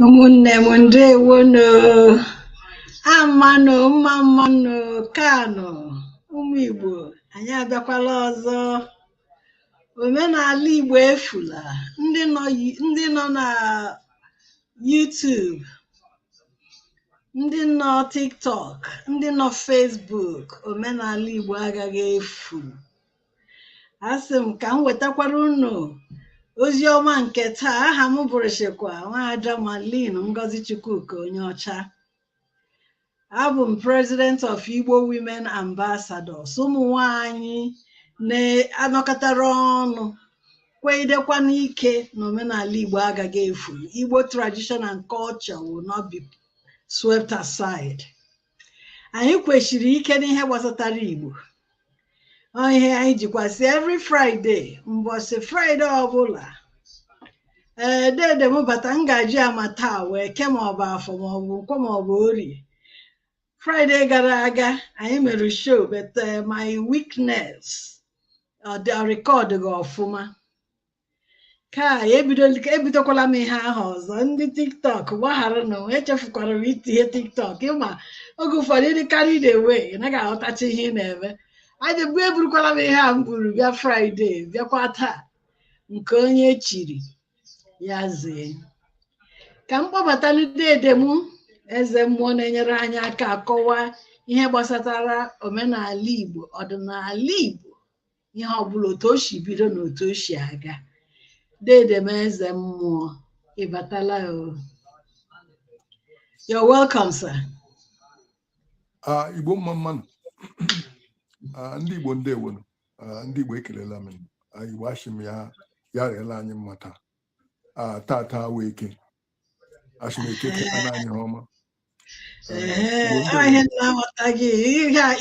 ụmụnne m ndewonu amanụ mma mmanụ kaanụ ụmụ igbo anyị abịakwala ọzọ omenala Igbo efula ndị nọ yi- ndị nọ na YouTube ndị nọ TikTok ndị nọ Facebook omenala Igbo agaghị efu asị m ka m wetakwara unu ozi ọma nke taa aha m bụrụchikwa nwaada Marlene Ngozi Chukwuka Onyeọcha abụ m president of Igbo Women Ambassadors ụmụ nwanyị na-anọkọtara ọnụ kwegidekwa n'ike na omenala Igbo agaghị efu Igbo tradition and culture will not be swept aside anyị kwesiri ike n'ihe gbasatara Igbo Ọ ihe anyị jikwasị every Friday mbọsị Friday ọbụla ee dede m bata m ga-eji amata ọ wụ eke maọbụ afọ maọbụ nkwọ maọbụ orie Fraịde gara aga anyị mere show but uh, my weakness ọ dị rekọd gị ọfụma Kai ebidokwala m ihe ahụ ọzọ ndị tiktok gbagharanụ echefukwara m itinye tiktok ịma oge ụfọdụ ị dị carried away ị naghị aghọtacha ihe ị na-eme aja bụ eburukwala m ihe a m buru bịa fraịde bịakwa taa nke onye chiri ya zee ka m kpọbatanụ dede m eze mmụọ na-enyere anyị aka akọwa ihe gbasatara omenala igbo ọdịnala igbo ihe ọbụla otu o si bido na otu o si aga dede m eze mmụọ ịbatala o you're welcome sir Ah, igbo mma mmanụ Ah, ndị igbo ndewonu Ah, ndị igbo ekelela m Ah, igbo ashị m ya rịela anyị mma taa Ah, tata wụ eke Ashị m eke kpara anyị ihe ọma ihe m na-aghọtaghị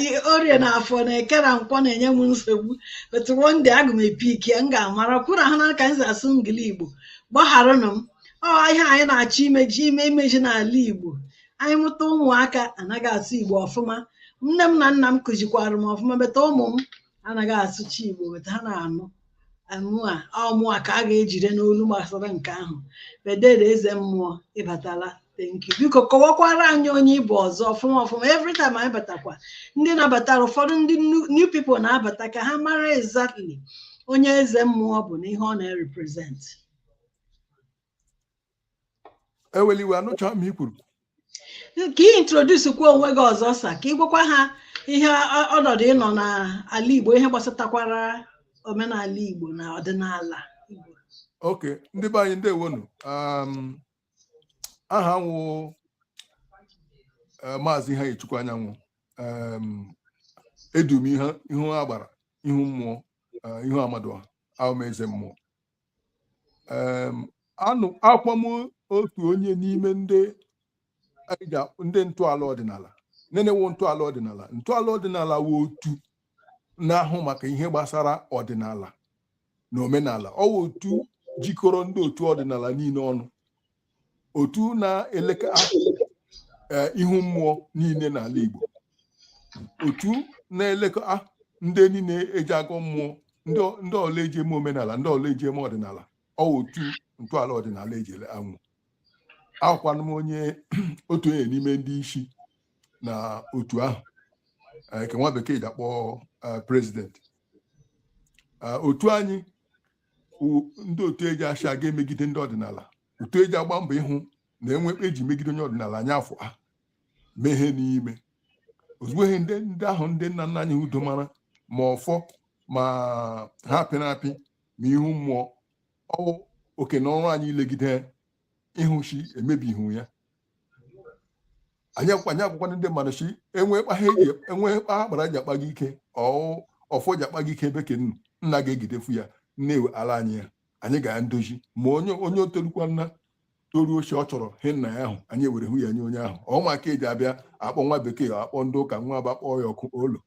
ihe orie na afọ na eke na nkwọ na-enye m nsogbu but one day aga m e-pick ya m ga-amara kwụrụ ahụ na ka m si asụ Engiligbo gbagharanụ m ọ ihe anyị na-achọ imeji ime imeji n'ala igbo anyị mụta ụmụaka anaghị asụ igbo ọfụma nne m na nna m kụzikwara m ọfụma but ụmụ m anaghị asụcha igbo but ha na-anụ mụa ọ mụa ka a ga-ejide n'olu gbasara nke ahụ but dede eze mmụọ ịbatala thank you biko kọwakwara anyị onye ị bụ ọzọ ọfụma ọfụma every time anyị batakwa ndị na-abatara ụfọdụ ndị new- new people na-abata ka ha mara exactly onye eze mmụọ bụ na ihe ọ na-represent ewela iwe anụcha m ihe i kwuru ka ị introduce kwa onwe gị ọzọ sa ka ị gwakwa ha ihe ọ- ọnọdụ ị nọ n'ala Igbo ihe gbasatakwara omenala Igbo na ọdịnala Igbo okay ndị be anyị ndewonu um, aha m wụ eh, maazị Iheanyichukwu anyanwụ um, edu m ihe ihu agbara ihu mmụọ eh, ihu Amadịọha awụ m eze mmụọ and awụkwa m otu onye n'ime ndị ndị ntọala ọdịnala nde nwe ntọala ọdịnala ntọala ọdịnala wụ otu na-ahụ maka ihe gbasara ọdịnala na omenala ọ wụ otu jikọrọ ndị otu ọdịnala niile ọnụ otu na-elekọ e, ihu mmụọ niile n'ala Igbo otu na-elekọ ndị niile eji agọ mmụọ ndị ọla eji eme omenala ndị ọla eji eme ọdịnala ọ otu ntọala ọdịnala eji awụ awụkwanụ m onye otu onye n'ime ndị isi na otu ahụ nke nwa bekee ji akpọ president otu anyị ndị otu eji asị aga emegide ndị ọdịnala otu eji agba mbọ ịhụ na enwe kpa eji megide onye ọdịnala anya afọ ha mee ihe n'ime ozugbo ihe ndị ndị ahụ ndị nna nna anyị ha domara ma ọfọ ma ihe apịrị apị ma ihu mmụọ ọ wụ oke na ọrụ anyị ilegide ịhụ shi emebihu ya anyị agwakwanụ ndị mmadụ si enwe kpa ha eji enwe kpa agbara ji akpa gị ike ọ wụ ọfọ ji akpa gị ike ebe ke nnu nna ga-ejidefu ya na-ewela anyị ya anyị ga ya ndozi ma onye onye o torukwana toruo shi ọ chọrọ ihe nna ya ahụ anyị were hụ ya nye onye ahụ ọ maka eji abịa akpọ nwa bekee akpọ ndị ụka nwa abịa kpọọ ya ọkụ olo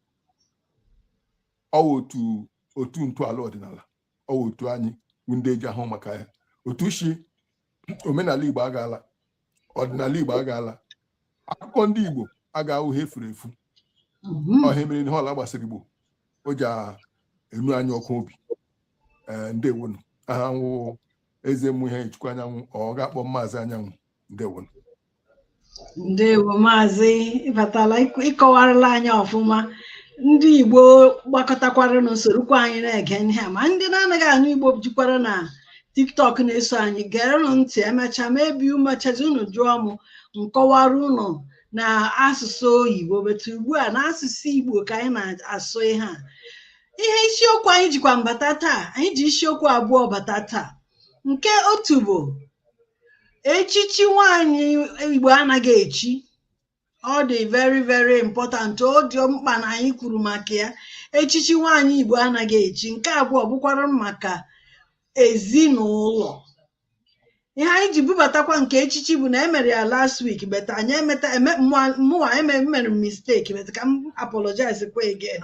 ọ wụ otu otu ntọala ọdịnala otu anyị wụ ndị ji ahụ maka ya otu si omenala igbo aga ala ọdịnala igbo aga ala akụkọ ndị igbo agaghị awụ ihe furu efu mhm. ọ ihe mere ihe ọla gbasara igbo o ji enu anyị ọkụ obi eh, ndewonu aha m wụ eze mmụọ iheanyichukwu anyanwụ or gị akpọọ m maazị anyanwụ ndewonu ndewo maazị ị batala ịk- ị kọwarala anyị ọfụma ndị igbo gbakọtakwara na-esorokwa anyị na-ege ihe a ma ndị na-anaghị anụ igbo jikwara na tiktok na-eso anyị gerenụ ntị emechaa maybe emechazie unu jụọ m m kọwara unu na asụsụ oyibo but ugbu a na asụsụ igbo ka anyị na-asụ ihe a ihe isiokwu anyị jikwanụ bata taa anyị ji isiokwu abụọ bata taa nke otu bụ echichi nwaanyị igbo anaghị echi ọ dị very very important ọ dị mkpa na anyị kwuru maka ya echichi nwaanyị igbo anaghị echi nke abụọ bụkwara maka ezinụlọ ihe anyị ji bubatakwa nke echichi bụ na emere ya last week but anyị emeta mụwa emere m mistake but ka m apologize kwa again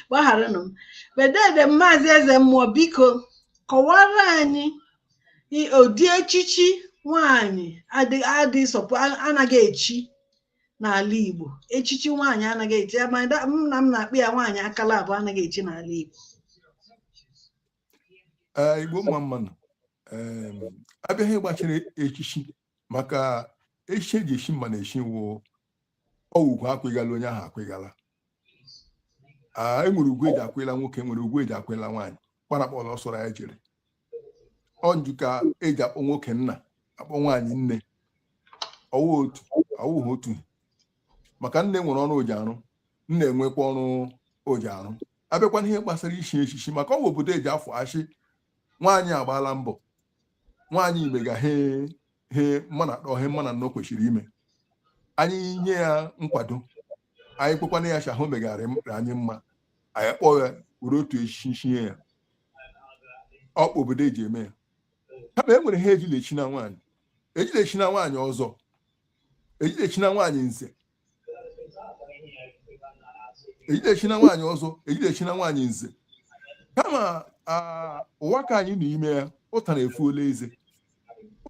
gbagharanụ m but dede maazị eze mmụọ biko kọwara anyị i- ụdị echichi nwanyị adị- adị sọpụ a- anaghị echi n'ala Igbo echichi nwaanyị anaghị echi ya ma da- m na m na-akpị ya nwaanyị akala abụọ anaghị echi n'ala Igbo Ee, igbo mma mmanụ Em, a bịa ihe gbasara echichi maka echichi eji eshi mmanụ eshi wụ ọ wụ ugwu akwịgala onye ahụ akwịgala enwere ugwu eji akwịla nwoke nwere ugwu eji akwịla nwaanyị kpanakpọla ọ sọrọ ya jere ọnju ka eji akpọ nwoke nna akpọ nwaanyị nne ọwụ otu awụghị otu maka nne nwere ọrụ oji arụ nna enwekwa ọrụ oji arụ abịakwana ihe gbasara ishi echichi maka ọwụ obodo eji afọ achị nwaanyị agbaala mbọ nwaanyị mega he he mmanụ atọ he mmanụ anọ kwesịrị ime anyị nye ya nkwado anyị kwekwana ya shị ha ahụ megara anyị mma anyị kpọọ ya were otu echichi nye ya ọ kpa obodo eji eme ya kama e nwere ha ejilechi na nwaanyị ejilechi na nwaanyị ọzọ ejilechi na nwaanyị nze ejilechi na nwaanyị ọzọ ejilechi na nwaanyị nze kama ụwa ka anyị n'ime ya ụtara efuola eze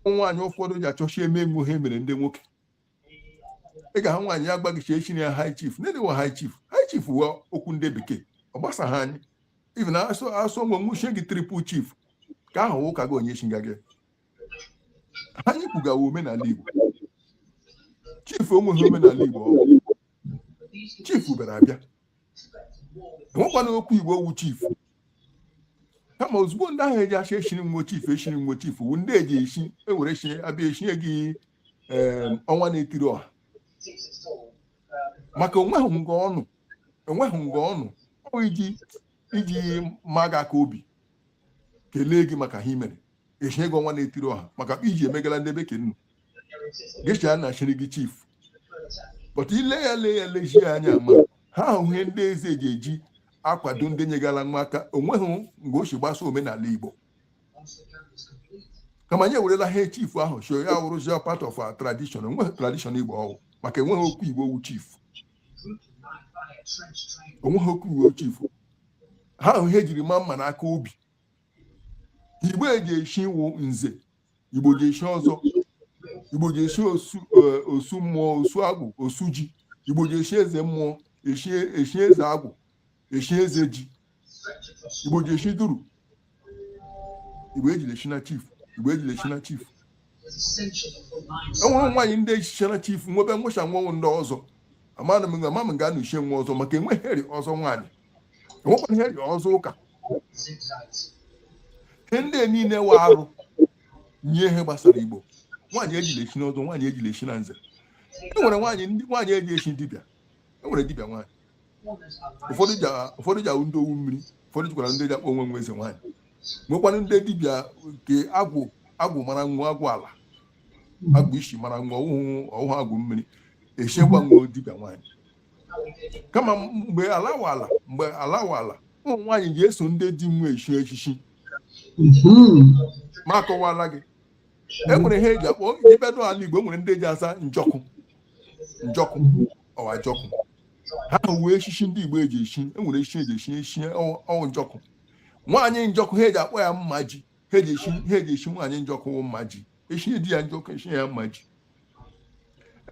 ụmụ nwaanyị ụfọdụ ji achọchi eme emume ha emere ndị nwoke ị ga-ahụ nwaanyị ya gwa gị shi echina ya high chief na-edewa high chief high chief wụ okwu ndị bekee ọ gbasaghị anyị even ọ sọ nwo nwo chie gị triple chief ka ahụ ụka gị onye chiga gị anyị kwugawa omenala Igbo chief ọwụghị omenala Igbo chief bịara abịa enwekwana okwu Igbo owu chief kama ozugbo ndị ahụ eji ashị eshiri nwo chief eshiri nwo chief wu ndị eji eshi ewere eshi abịa eshie gị ọnwa na-etiri ọha maka onweghị nga ọ nọ enweghị nga ọ nọ ọ iji iji ma gị aka obi kelee gị maka ha imere eshie gị ọnwa na-etiri ọha maka iji emegala ndị ebe ke nnu gịcha na eshiri gị chief but ile ya lee ya lejie anya ma ha ahụ ihe ndị eze ji eji akwado ndị nyegara nwo aka onweghị mgbe o si gbasa omenala igbo kama anyị ewerela ha chief ahụ so ya wụrụzie part of our tradition onweghị tradition igbo ọwụ maka enweghị okwu igbo wu chief onweghị okwu igbo chief ha ahụ ihe ejiri ma mmanụ aka obi igbo ji eshi wụ nze igbo ji eshi ọzọ igbo ji eshi osu e, mmụọ osu agwụ osu ji igbo ji eshi eze mmụọ eshi e, eze agwụ eshi eze ji igbo ji eshi duru igbo ejile eshi na chief enwere nwaanyị ndị echichara chief nwebe nwụcha nwanwụ ndị ọzọ amana m ama m ga-anụ ichie nwa ọzọ maka enweghị ihe rị ọzọ nwaanyị enwekwanụ ihe rị ọzọ ụka ihe ndị niile wụ arụ nye ihe gbasara igbo nwaanyị ejila echi n'ọzọ nwaanyị ejila echi na nze e nwere nwaanyị ndị nwaanyị eji echi dibịa e nwere dibịa nwaanyị ụfọdụ ji awụ ndị owu mmiri ụfọdụ jikwara ndị ji akpọ onwe nwe eze nwaanyị nwekwanụ ndị dibịa nke agwụ agwụ mara nwa agwụ ala agwụ isi mara nwa ọ wụhụ agwụ mmiri echikwa nwa dibịa nwaanyị kama mgbe ala wụ ala mgbe ala wụ ala ụmụ nwaanyị ji eso ndị di nwa echi echichi mhm. ma akọwala gị e nwere ihe eji akpọ ibedo ala igbo e nwere ndị ji aza njọkụ njọkụ ọwa jọkụ ha wụ echichi ndị igbo eji echi e nwere echichi eji echi echi ọ wụ njọkụ nwaanyị njọkụ ha eji akpọ ya mma ji ha eji echi nwaanyị njọkụ wụ mma ji echi di ya njọkụ echi ya mma ji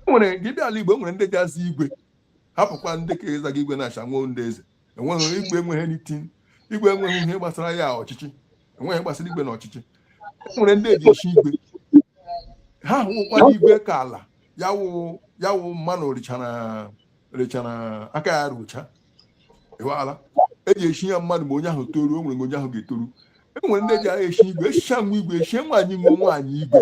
enwere gị bịa ala Igbo enwere ndị ji aza igwe hapụkwa ndị ka azaga igwe na-acha nwa ndị eze enweghị igwe enweghị anything igwe enweghị ihe gbasara ya ọchịchị enweghị gbasara igwe na ọchịchị enwere ndị eji echi igwe ha hụkwara igwe ka ala ya wụ ya wụ mmanụ richara richara aka ya rucha ịwala eji echi ya mmadụ ma onye ahụ toruo o nwere onye ahụ ga-etoru enwere ndị eji agha echi igwe echicha nwa igwe echie nwaanyị nwe nwaanyị igwe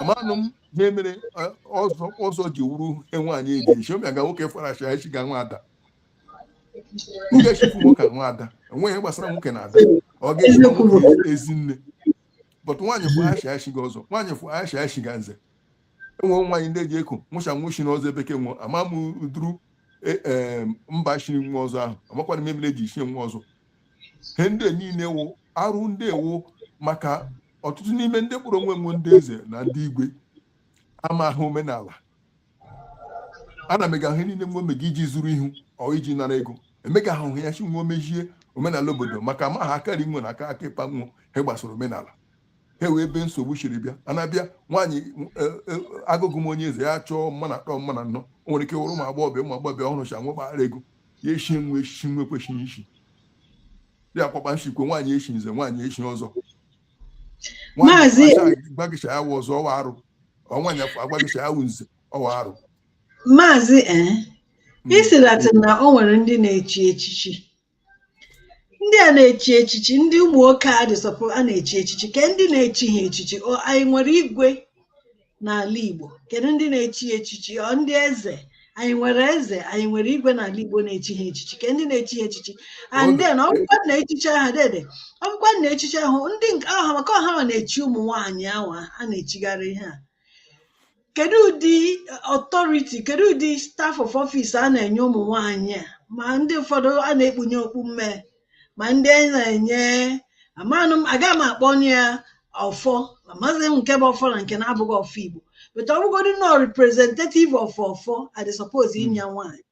amanụ m ihe mere eh, ọzọ ọzọ ji wụrụ ihe nwaanyị eji echi ọmịa ga nwoke fara acha echi ga nwa ada m echifu nwoke a nwa ada enweghị ihe gbasara nwoke na ada ọ ga-echi na nwoke ezi nne bọtụ nwaanyị fụ acha echiga ọzọ nwaanyị fụ acha echiga nze enwe nwaanyị ndị eji eko nwụcha nwụchi na ọzọ bekee nwụọ ama m duru eh, eh, mba chiri nwa ọzọ ahụ amakwana m ihe mere eji chie nwa ọzọ he ndị niile wụ arụ ndị wụ maka ọtụtụ n'ime ndị kpọrọ onwe nwe ndị eze na ndị igwe amaghị omenala ana mega ihe niile nwe omega iji zuru ihu ọ iji nara ego emega ahụ ya chi nwe omejie omenala obodo maka amaghị akarị nwe na aka aka ịkpa nwe ihe gbasara omenala ha wụ ebe nsogbu siri bịa a na-abịa nwaanyị e, e, agụgụ m onye eze ya chọọ mmadụ atọ mmadụ anọ o nwere ike wụrụ ụmụ agbọghọbịa ụmụ agbọghọbịa ọ hụrụcha nwe gbaghara ego ya eshi nwe echichi nwe kwesịrị ishi ya akwakpa nshikwe nwaanyị eshi nze nwaanyị eshi ọzọ Maazị- gbagicha ya wụ ọzọ ọwa arụ nwaanyị afọ agbagicha ya wụ nze ọwa arụ maazị ee Mm. isilatị na o nwere ndị na-echi echichi ndị a na-echi echichi ndị ụmụ nwoke a dịsọpụ a na-echi echichi ke ndị na-echi ha echichi ọ anyị nwere igwe n'ala Igbo kedu ndị na-echi ha echichi ọ ndị eze anyị nwere eze anyị nwere igwe n'ala Igbo na-echi ha echichi ke ndị na-echi ha echichi and then ọ bụkwa na echichi aha dede ọ bụkwa na echichi ahụ ndị nke ahụ maka ọ ha na-echi ụmụ nwaanyị ahụ a na-echigharị ihe a kedu ụdị authority kedu ụdị staff of office a na-enye ụmụ nwaanyị a ma ndị ụfọdụ a na-ekpunye okpu mmee ma ndị a na-enye amanụ m aga m akpọnụ ya ọfọ amaghị m nke bụ ọfọ na nke na-abụghị ọfọ igbo but ọ bụgodị nọ representative of ọfọ a dị suppose inye ya nwaanyị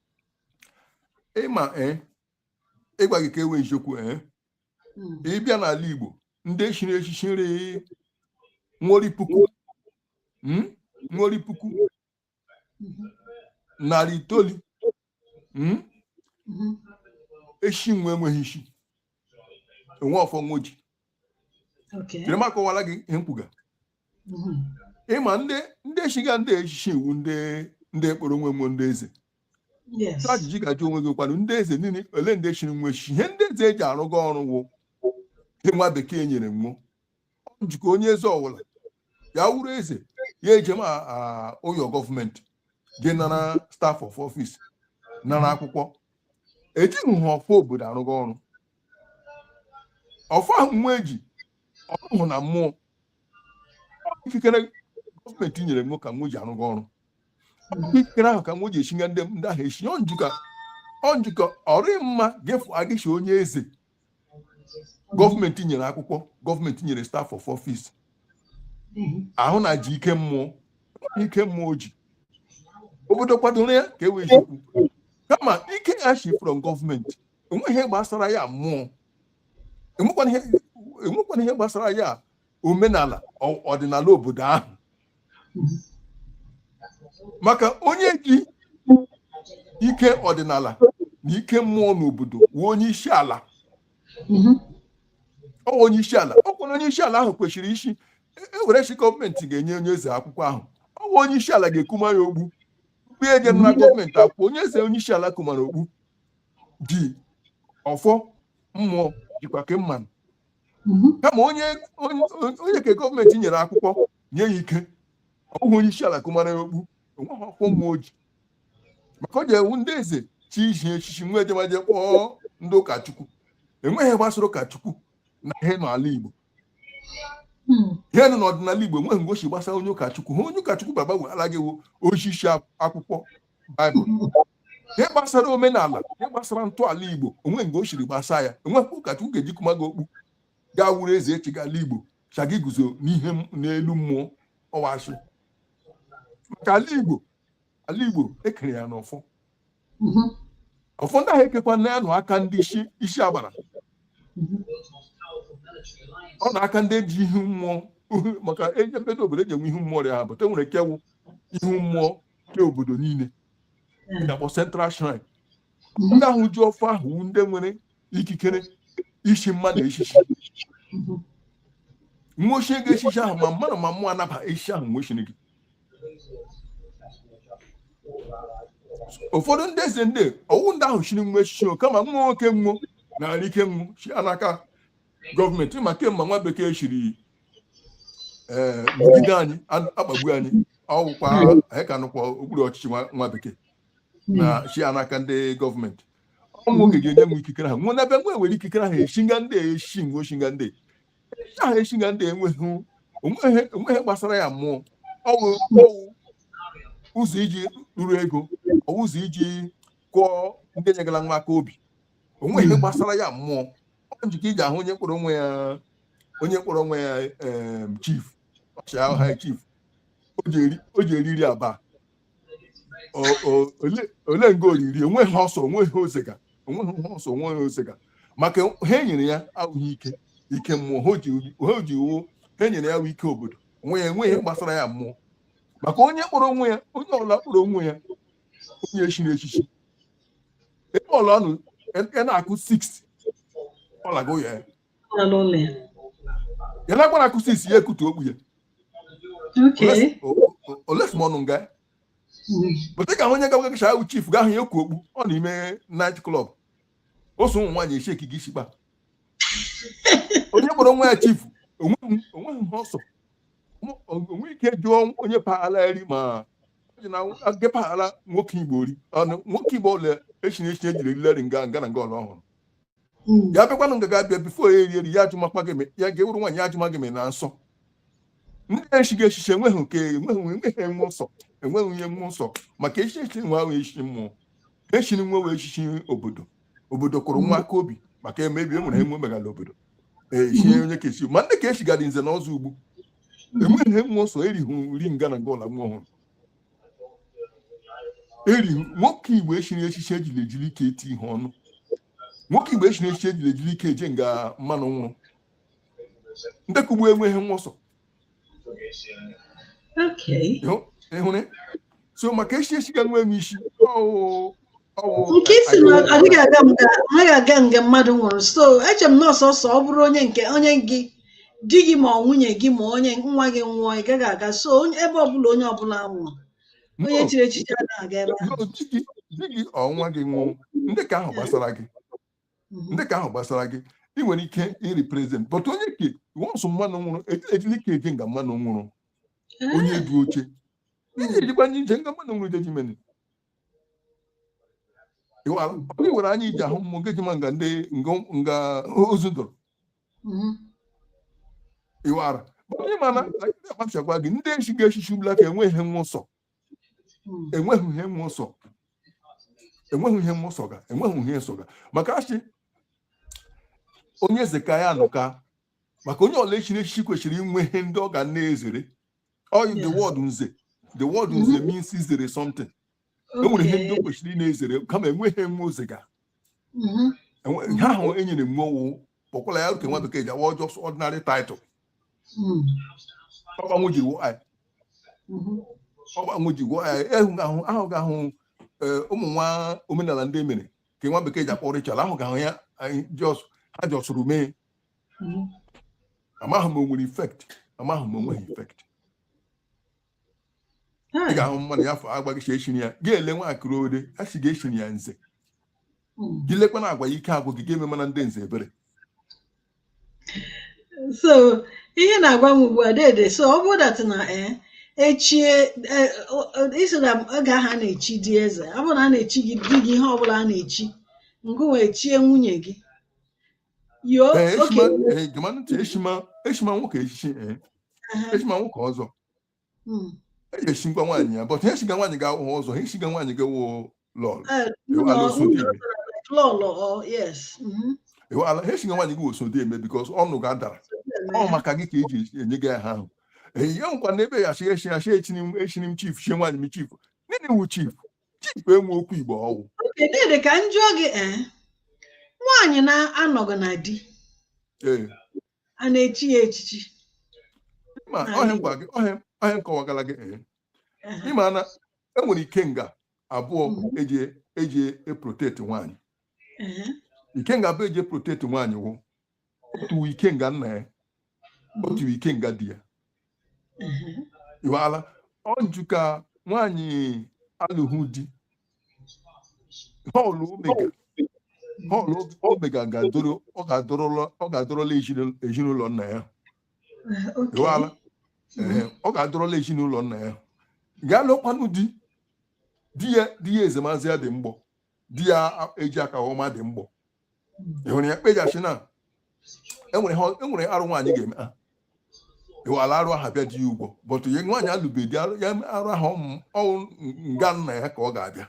ị ma ee ịgwa gị ka enwe eziokwu ee Mm. ị bịa n'ala igbo ndị shiri eshishi nri nwo rị puku Mm? nwo rị puku narị itoolu hmm? mhm. eshi nwe enweghị ishi enwe ọfọ nwo ji jiri m akọwara gị ihe m kwuga mhm. ị ma ndị eshiga ndị eshishi iwu ndị ekporo nwe wụ ndị eze ajụjụ ị ga-ajụ onwe gị kwanụ ndị eze niile ole ndị shiri nwe eshishi ihe ndị eze eji arụga ọrụ wụ ihe nwa bekee nyere nwo ọ njikọ onye eze ọwụla ya wụrụ eze ya ejem ụyọ gọọmenti je nara staff of office nara akwụkwọ ejighị ha ọfọ obodo arụga ọrụ ọfọ ahụ nwa eji ọhụụ na mmụọ ikikere gọọmenti nyere nwe ka nwe ji arụga ọrụ ikikere ahụ ka nwe ji eshiga ndị ahụ eshi ọ njikọ ọ rị mma gị fụ agịchi onye eze gọọmenti nyere akwụkwọ gọọmenti nyere staff of office ahụ na ji ike mmụọ ike mmụọ ji obodo kwadoro ya ka e wee chekwu kama ike ya shi from gọọmenti o nweghị ihe gbasara ya mmụọ enwekwana ihe gbasara ya omenala ọdịnala obodo ahụ maka onye ji ike ọdịnala na ike mmụọ n'obodo wụ onye ishi ala mhm. ọ wụ onye ishi ala ọ kwa onye ishi ala ahụ kwesịrị ishi ewere e chi gọọmenti ga-enye onye eze akwụkwọ ahụ ọ wụ onye ishi ala ga-ekuma ya okpu mgbe e je nara mhm. gọọmenti akwụkwọ onye eze onye ishi ala kumara okpu ji ọfọ mmụọ jikwa ke mmanụ mhm. kama onye onye nke gọọmenti nyere akwụkwọ nye ya ike ọ bụghị onye isi ala kụmara ya okpu enweghị ọfọ mmụọ o ji maka o ji ewu ndị eze chi ihi echichi nwa ejemaje kpọọ ndị ụkọchukwu enweghị ihe gbasara ụkọchukwu na ihe nọ n'ala Igbo hmm. ihe nọ n'ọdịnala Igbo enweghị nga o si gbasa onye ụkọchukwu ha onye ụkọchukwu baba weghara gị wụ isi akwụkwọ baịbụl ihe gbasara omenala ihe gbasara ntọala igbo onweghị nga o siri gbasa ya enweghị ụkọchukwu ga-eje kuma gị okpu gị awụrụ eze echi gala igbo sị gị guzo n'ihe m- n'elu mmụọ ọ wụ asị maka ala igbo ala igbo ekere ya n'ọfọ Mhm. ọfọ ndị ahụ ekekwa na ya nọ n'aka ndị isi isi agbara ọ nọ n'aka ndị ji ihu mmụọ maka e jee obodo obodo eji enwe ihu mmụọ rịa ha but enwere nke wụ ihu mmụọ nke obodo niile na-akpọ central shrine ndị ahụ ji ọfọ ahụ ndị nwere ikikere ichi mmadụ echichi nwa echie gị echichi ahụ ma mmadụ ma mmụọ anaba echichi ahụ nwa chie gị ụfọdụ ndị eze ndị ọwụ ndị ahụ chiri nwa echichi kama nwa nwoke nwụọ na ike nwa si n'aka gọọmenti ma kemgbe nwa bekee chiri ee megide anyị a- akpagbu anyị ọwụkwa anyị ka nọkwa n'okpuru ọchịchị nwa nwa bekee na-esi n'aka ndị gọọmenti ọnwụ oge ga-enye m ikikere ha nwụ n'ebe nwe nwere ikikere ahụ eshinga ndị a eshi nwe oshinga ndị a. ahụ eshinga ndị a enweghị onweghị onweghị ihe gbasara ya mmụọ ọwụ ọwụ ụzọ iji ruru ego ọwụ ụzọ iji kụọ ndị nyegara nwa aka obi onweghị ihe gbasara ya mmụọ ọ njikọ i ji ahụ onye kpọrọ onwe ya onye kpọrọ onwe ya em, chief ọchịagha ha chief o ji eri- o ji eriri aba O- o- ole- ole nga o riri onweghị ihe ọ sọ onweghị ihe o zega onweghị ihe ọ sọ onweghị ihe o zega maka ihe e nyere ya awụghị ike ike mmụọ ihe o ji ihe o ji wụ ihe e nyere ya bụ ike obodo onwe ya enweghị ihe gbasara ya mmụọ maka onye kpọrọ onwe ya onye ọbụla kpọrọ onwe ya onye echiri echichi ebe ọla ọ nọ ya na-akụ 6 ọlago ya ya na-akwa na-akụ 6 ya ekutu okpu ya olesi m ọnụ nga but ka onye gawa gacha ahụ chief ga ahụ ya ekpu okpu nọ n'ime night club o so ụmụ nwaanyị echi ekike isi kpa onye kpọrọ onwe ya chief onweghị ihe ọ sọ onwe ike jụọ onye paghara eri ma ji na agepaghala nwoke igbo ori ọnụ nwoke igbo ọla echiri echichi ejighị eri eri nga nga na nga ọla ọ hụrụ hmm. ya bịakwanụ nga ga-abịa before ya eri eri ya ajụmakwa gị ya gị awụrụ nwaanyị ya ajụma gị ma ị nọ nsọ ndị echighị echichi enweghị nke enweghị enweghị enwe nsọ enweghị onye nwe nsọ maka echichi echiri nwe awụghị echichi mmụọ echiri nwe wụ echichi obodo obodo kụrụ we aka obi maka emebi e nwere ihe we megala obodo echie e onye ka esi ma ndị ka echigara nze na ọzọ ugbu enweghị ihe we sọ erihụ nri nga na nga ọla we hụrụ eri nwoke igbo echiri echichi ejiri ejiri ike eti ihe ọnụ nwoke igbo echiri echichi ejiri ejiri ike eje nga mmanụ nwụrụ ndị ka ugbu enweghị ihe we sọ Okay. ịhụrụ so maka echichi ga nwee isi ọwụ ọwụ nke ị sị na adịghị aga nga anaghị aga nga mmadụ nwụrụ so eche m na ọ sọọsọ ọ bụrụ onye nke onye gị di gị ma ọ nwunye gị ma onye nwa gị nwụọ ị gaghị aga so onye- ebe ọbụla onye ọbụla nwụrụ onye chiri echichi anaghị aga ebe ahụ No, di gị di gị ọ nwa gị nwụọ ndị ka ahụ gbasara gị mhm. ndị ka ahụ gbasara gị ị nwere ike ịrị present but onye ke once mmanụ nwụrụ ejili ike eje nga mmanụ nwụrụ onye du oche iji mhm. ejikwa nye ije nga mmanụ nwụrụ jeji meni onye nwere anya iji ahụ mmụọ ngeji ma nga ndị nga ozu dọrọ mhm. ịwara anya mana akpachakwa gị ndị echiga echichi ugbula ka enweghị ihe we sọ enweghị ihe we sọ enweghị ihe we sọga enweghị ihe we sọga maka a shị onye eze ka ya nụka maka onye ọla echiri echichi kwesịrị inwe ihe ndị ọ ga na-ezere oyi the Yeah. word nze the word nze means izere something e nwere ihe ndị o Okay. kwesịrị ị na-ezere kama enweghị ihe we zega Mhm. Enwe- ihe ahụ enyere we ọwụ kpọkwala ya nke nwa bekee ji awa just ordinary title hmm. ọgbanwe ji gwụọ anyị hmm. ọgbanwe ji gwụọ anyị ehu ahụ ahụ ga-ahụ e, ụmụ nwa omenala ndị emere ka nwa bekee ji akpọ ritual ahụ ga-ahụ ya anyị just ha jọsụrụ mee hmm. amaghị m o nwere effect amaghị m o nweghị effect ị hmm. ga-ahụ mmadụ ya afọ agbaghịcha echiri ya ga-ele nwa akụrụ ode a si ga-echiri ya nze hmm. gị lekwa n'agwa ya ike agwụ gị ga-eme mana ndị nze ebere so ihe na-agwa m ugbu a dede so ọ bụ that na eh, echie eh, isi na oge ahụ a na-echi ndị eze ọ bụrụ na a na-echi gị di gị ihe ọbụla a na-echi ngụwa echie nwunye gị Yo, ee eshima okay. ee gama ntị eshima eshima nwoke echichi ee Uh-huh. eshima nwoke ọzọ Mm. eji eshigwa nwaanyị ya but ihe eshiga nwaanyị gị awụhụ ọzọ ihe eshiga nwaanyị gị wụ lọlọ Uh, Yo, no, alụsụ no, dị no, eme. like lọlọ, yes. Mhm. Yo, ala- ihe eshiga nwaanyị gị wụ osodieme because ọnụ ga adara ọ maka gị ka eji enye gị aha ahụ ee ya nkwa na ebe ya shi eshi ya shi echini m echini m chief shie nwaanyị m chief nene wu chief chief enwe okwu igbo ọwụ oke dede ka m jụọ gị ee nwaanyị na-anọghị na di ee a na-echi ya echichi ma N'ala ọhịa Igbo. ngwa gị ọhịa ọhịa nkọwagala gị ee Ehe. ịma na enwere ikenga abụọ Mhm. eji eji eprotect nwaanyị Ehe. ikenga abụọ eji eprotect nwaanyị wụ otu ikenga nna ya otu ikenga di ya iweala ọ nju ka nwaanyị alụghị di họlụ omega họlụ omega ga-adoro ọ ga-adorola ọ ga-adorola ezinụlọ- ezinụlọ nna ya Okay. iweala Ehe, ọ ga-adọrọla ezinụlọ nna ya gaa lụkwanụ di di ya di ya ezemazị ya dị mgbọ di ya a- eji aka ọma dị mgbọ ị hụrụ ya kpejachi na enwere ha- enwere arụ nwaanyị ga-eme iwala arụ aha bịa di ya ụgwọ but ya nwaanyị alụbeghị di arụ ya arụ aha ọmụ- ọ wụ nga nna ya ka ọ ga-abịa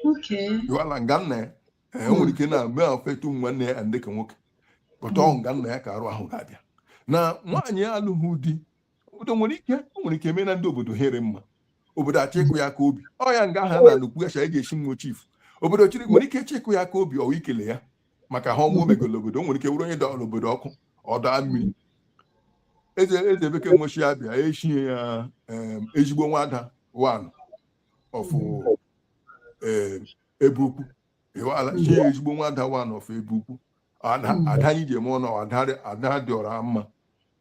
Okay. iwala nga nna ya ee, o nwere ike na-eme affect nwanne ya ndị ka nwoke but ọ wụ nga nna ya ka arụ ahụ ga-abịa na nwaanyị alụghị di obodo nwere ike o nwere ike mee na ndị obodo ihe rị mma obodo achọ ịkụ ya aka obi ọ ya nga ha na nnukwu ya eji esi nwa chief obodo chiri nwere ike ịchọ ịkụ ya aka obi ọwa ikele ya maka ihe ọma o megolo obodo o nwere ike wụrụ onye dọọrọ obodo ọkụ ọdọ mmiri eze eze beke nwechi ya bịa echie ya ezigbo nwada one of ebe ukwu ịwala chie ya ezigbo nwada one of ebe ukwu ada anyị ji eme ọnụ ada dị ọra mma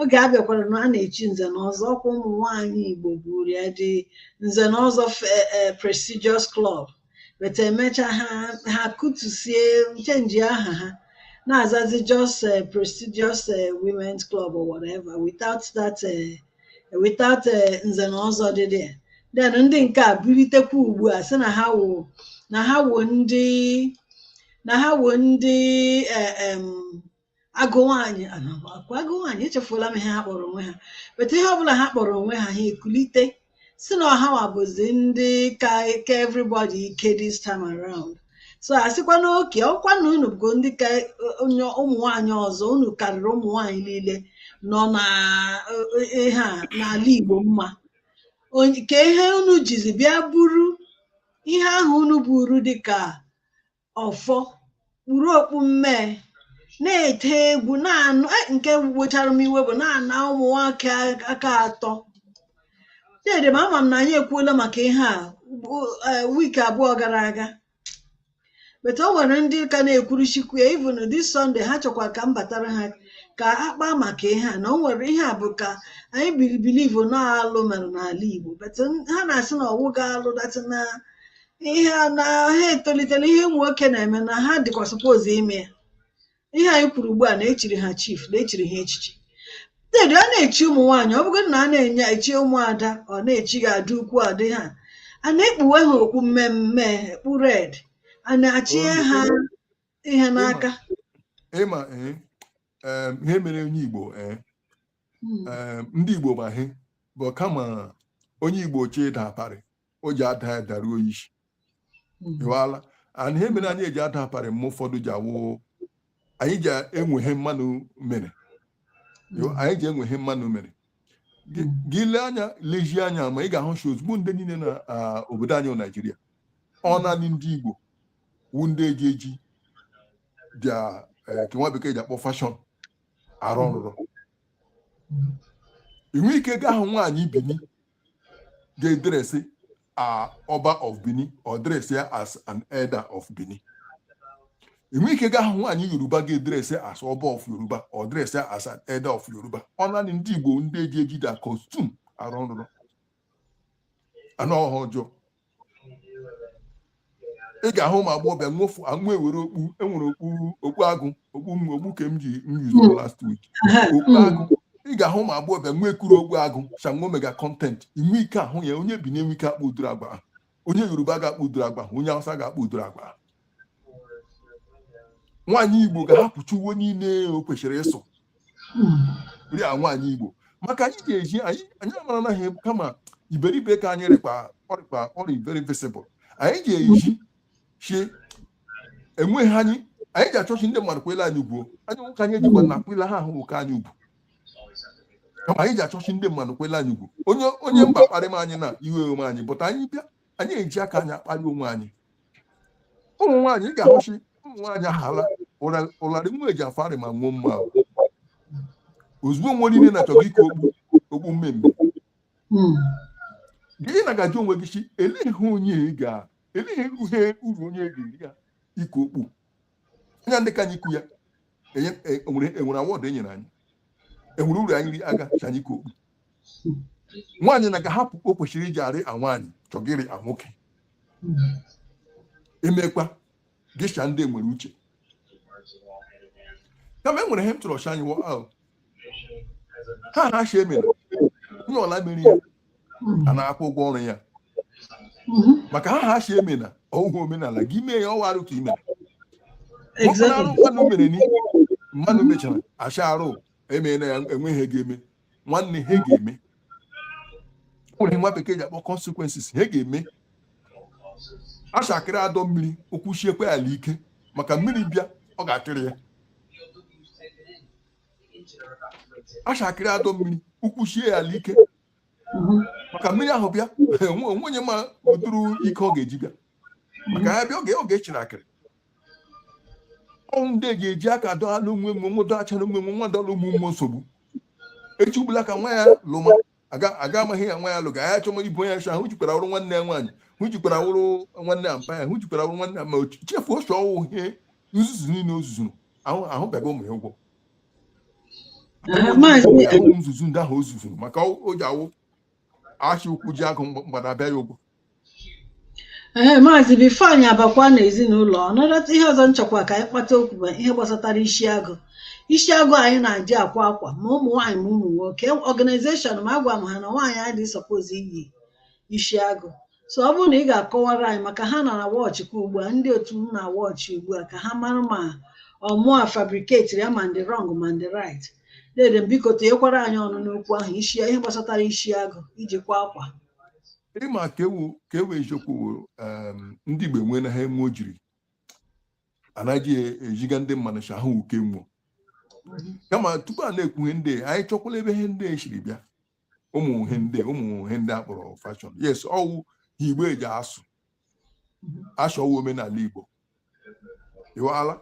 oge a bịakwara na a na-echi nze na ọzọ ọkwa ụmụ nwaanyị igbo buru ya dị nze na ọzọ fe- eh, prestigious club but emecha ha ha kụtusie change aha ha na-azazi just eh, prestigious eh, women's club or whatever without that eh, without eh, nze na ọzọ dị there then ndị nke a bilitekwa ugbu a sị na ha wụ na ha wụ ndị na ha wụ ndị eh, em, agụ nwaanyị ọkwa agụ nwaanyị echefuola m ihe ha kpọrọ onwe ha but ihe ọbụla ha kpọrọ onwe ha ha ekulite si na ọ ha wa bụzi ndị ka ka everybody ike this time around so asịkwa na okay ọkwa na unu bụ ndị ka onye ụmụ nwaanyị ọzọ unu karịrị ụmụ nwaanyị niile nọ na eh, ihe a n'ala Igbo mma Onye- ka ihe unu jizi bịa buru ihe ahụ unu buru dịka ọfọ kpuru okpu mmee na-ete egwu na-anụ e, nke wechara m iwe bụ na-ana ụmụ nwoke aka atọ dede m ama m na anyị ekwuola maka ihe a e, week abụọ gara aga but o nwere ndị ka na-ekwuruchikwu ya even this Sunday ha chọkwa ka m batara ha ka a kpaa maka ihe a na o nwere ihe a bụ ka anyị beli believe na alụ mere n'ala Igbo but ha na-asị na ọ wụghị alụ that na ihe a na ha etolitela ihe ụmụ nwoke na-eme na ha dịkwa suppose ime ya ihe anyị kwuru ugbu a na e chiri ha chief na e chiri ha echichi dede a na-echi ụmụ nwaanyị ọ bụgodị na a na-enye echi ụmụada ọ na-echi gị ada ukwu adị ha a na-ekpuwe ha okpu mmemme okpu red a na-achie ha ihe n'aka ị ma eh, em, ihe mere onye igbo eh, Mm. em, ndị igbo ma ihe bụ kama onye igbo chee ịda aparị o ji ada ya daruo ishi ịwala ana ihe mere anyị ji ada aparị mgbe ụfọdụ ji awụ anyị ji enweghị mmanụ mere anyị ji enweghị mmanụ mere gị lee anya lezie anya ma ị ga-ahụ shi ozugbo ndị niile na obodo anyị naijiria ọ naanị ndị igbo wu ndị ji eji bịa nke nwa bekee ji akpọ fashion arụ ọrụrụ i nwe ike gaa hụ nwaanyị bini ga-edresị as ọba of Bini ọ dresị ya as an elder of Bini i nwe ike gaa hụ nwaanyị yoruba ga-edresị as ọba of yoruba ọ dresị ya as an elder of yoruba ọ naanị ndị igbo ndị ji eji their costume arụ nrụrụ anụ ọhịa ọjọọ ị ga-ahụ ụmụ agbọghọbịa nwofu anwụ ewere okpu e nwere okpu okpu agụ okpu m okpu ka m ji m yuzuru last week okpu agụ ị ga-ahụ ụmụ agbọghọbịa nwo ekuru okpu agụ shi nwo mega content i nwe ike ahụ ya onye bini enwe ike akpa ụdịrị agwa ahụ onye yoruba ga-akpa ụdịrị agwa ahụ onye hausa ga-akpa ụdịrị agwa ahụ nwaanyị igbo ga-ahapụcha uwe niile o kwesịrị ịsụ nri a nwaanyị igbo maka anyị ga-eji anyị anyị amara naghị kama iberibe ka anyị rịkpa ọrịkpa ọrịa very visible anyị ga-eji chi enweghị anyị anyị ga-achọ shi ndị mmadụ kwele anyị ugwu anyị onwe ke anyị ejikwa na kwele ha ahụ onwe ke anyị ugwu kama anyị ga-achọ shi ndị mmadụ kwele anyị ugwu onye onye mba kparịma anyị na iwe ewe anyị but anyị bịa anyị eji aka anyị akparị onwe anyị ụmụ nwaanyị ị ga-ahụ shi ụmụ nwaanyị ahala ụlarị nwo eji afarị ma nwo mma ozugbo nwo niile na-achọga iku okpu okpu mmemme gị na-aga ajụ onwe gị shi elee ihe onye ga elee ihe uru onye ga-eri ya iku okpu anya ndị ka anyị kwu ya enwere e, e awọdụ e nyere anyị enwere uru anyị ri aga shi anyị kwu okpu nwaanyị na ga hapụ o kwesịrị iji arị a nwaanyị chọgịrị a nwoke emekwa gịcha ndị nwere uche kama e nwere ihe m chọrọ shi anyị ahụ ha ha shi emere onye ọla mere ya a na-akwụ ụgwọ ọrụ ya maka ha ha si eme na ọhụhụ omenala gị mee ya ọ wụ arụ ka i mere ọkpụnarụ mmadụ mere ni mmadụ mechara acha arụ emeela ya enweghị ihe ga-eme nwanne ihe ga-eme nwere nwa bekee ji akpọ consequences ihe ga-eme a shị akịrị adọ mmiri ụkwụ siekwa ala ike maka mmiri bịa ọ ga-eri ya a shị akịrị adọ mmiri ụkwụ sie ya ala ike maka mmiri ahụ bịa enwe enwe onye ma ụdịrị ike ọ ga-eji bịa maka ya bịa oge oge e shiri akịrị ọ wụ ndị eji eji aka dọala onwe onwe nwe dọ acha onwe onwe nwa dọlụ ụmụ ụmụ nsogbu echi ugbula ka nwa ya lụma aga amaghị ya nwa ya lụga ya chọma boys ahụ jikwara awụrụ nwanne ya nwaanyị ahụ jikwara awụrụ nwanne ya mpa ya hụ jikwara awụrụ nwanne ya ma chefuo shi ọ wụ ihe nzuzu niile o zuzuru ahụ ahụ bịaga ụmụ ya ụgwọ nzuzu ndị ahụ o zuzuru maka o ji awụ a shị ụkwụ jie agụ mgbada abịa ya ụgwọ ee maazị bifo anyị abakwa na ezinụlọ ọnọdụ taa ihe ọzọ m chọkwa ka anyị kpata okwu bụ ihe gbasatara isi agụ isi agụ anyị na-eji akwa akwa ma ụmụ nwaanyị ma ụmụ nwoke ọganizeshọn ma agwa m ha na nwaanyị adịghị sọpozi iyi isi agụ so ọ bụrụ na ị ga-akọwara anyị maka ha na-awọchị kwa ugbu a ndị otu m na-awọchị ugbu a ka ha mara ma ọ mụa fabriketiri ya ma m dị rọng ma m dị rait dede biko tinyekwara anyị ọnụ n'okwu ahụ isi ihe gbasatara isi agụ iji kwa akwa ị ma ka ewu ka ewu eziokwu wụ, em, ndị igbo enwe na ha enwe ojiri anaghị ejiga ndị mmadụ si ahụ uke nwụọ kama tupu a na-ekwu ihe ndị a, anyị chọkwala ebe ihe ndị a siri bịa ụmụ ihe ndị a, ụmụ ihe ndị a kpọrọ fashọn yes ọ wụ ha igbo eji asụ a shị ọ wụ omenala Igbo ịwala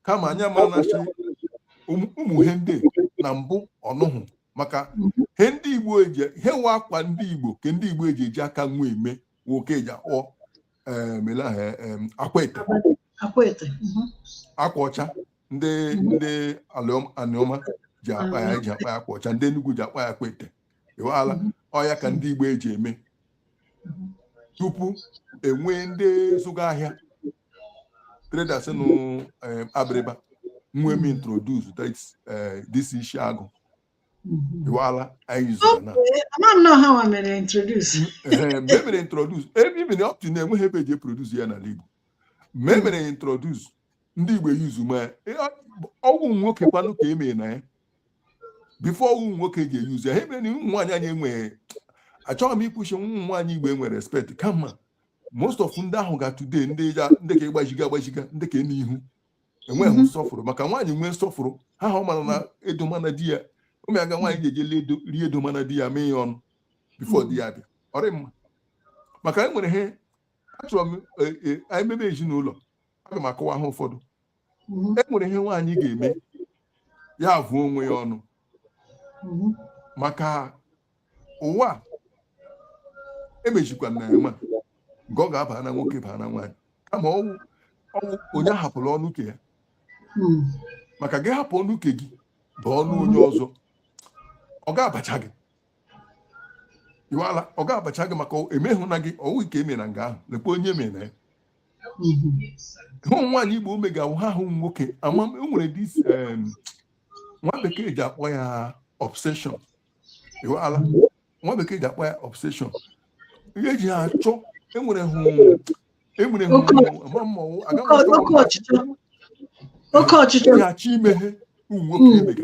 kama anyị amana shị ụmụ ihe ndị na mbụ ọnụhụ maka he ndị Igbo eji he wụ akwa ndị Igbo ke ndị Igbo eji eji aka onwe eme nwoke eji akpọ melaha akwete akwa ọcha ndị ndị anioma ji akpọ ya ji akpọ ya akwa ọcha ndị Enugu ji akpọ ya akwete ịwaala ọ ya ka ndị Igbo eji eme tupu enwee ndị zụga ahịa traders nụ eh, abịrịba nwe m introduce this eh, isi agụ iwala anyị zụrụ na emere introduce even up to now enweghị ebe eji produce ya n'ala Igbo ma emere introduce ndị igbo use ma ọwụ nwoke kwanụ ka emere na ya before ọwụ nwoke ji e use ya ha emere na ụmụ nwaanyị anyị enweghị achọghị m ikwu si ụmụ nwaanyị igbo enwe respect kama most of ndị ahụ ga today ndị ka ịgbajiga agbajiga ndị ka n'ihu enweghị mhm. nsọfụrụ maka nwaanyị nwee nsọfụrụ ha ha ọ mara na edomana di ya ụmụ ya ga nwaanyị ga-eje rie edomana di ya mee ya ọnụ before di ya bịa ọrị mma maka e nwere ihe achọrọ m e, e, anyị mebe ezinụlọ aga m akọwa ha ụfọdụ e nwere ihe nwaanyị ga-eme ya avụọ onwe ya ọnụ maka ụwa emejikwa na ịma nke ọ ga-aba na nwoke baa na nwaanyị kama ọwụ onye hapụla ọnụ ke ya maka gị hapụ ọnụ ke gị bụ ọnụ onye ọzọ ọ ga-abacha gị iwala ọ ga-abacha gị maka emehụ na gị ọwụ ike eme na nga ahụ lekwa onye mere na ya hụ nwaanyị igbo ome ga-awụ ha hụ nwoke ama m enwere this em, nwa bekee ji akpọ ya obsession ịghọala nwa bekee ji akpọ ya obsession ihe ji ha achọ enwere hụ enwere hụ Oke- ama m ọwụ aga m oke achọ oke ọchịchọ oke ọchịchọ ya achọ ime ihe ụmụ nwoke Mm. emega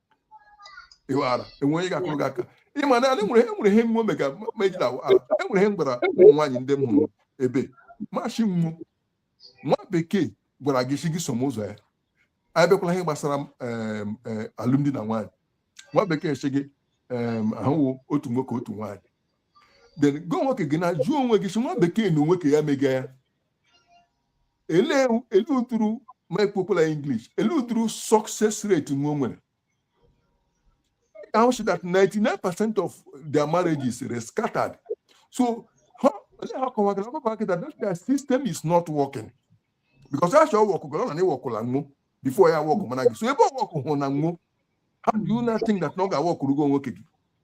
iwala enwe onye ga-akụrụ gị aka ịma na e nwere enwere ihe mmụọ mega megide ala enwere ihe m gwara ụmụ nwaanyị ndị m hụrụ ebe ma si nwa nwa bekee gwara gị si gị som ụzọ ya anyị bịakwala ihe gbasara e, alụmdi na nwaanyị nwa bekee si gị ahụwo otu nwoke otu nwaanyị then gị wụ nwoke gị na jụọ onwe gị si nwa bekee na onwe ke ya mega ya elee ele ụdịrị m kpọkwala English ele ụdịrị success rate nwa o nwere ahụ si that 99 percent of their marriages were scattered so ha olee ha kọwagara ọkọkọ akị that that their system is not working because a sị ọ work gara ọ na na workụla nwụ before ya work mana gị so ebe ọ work hụ na nwụ how do you not think that na ọ ga-aworkụrụ gị onwe gị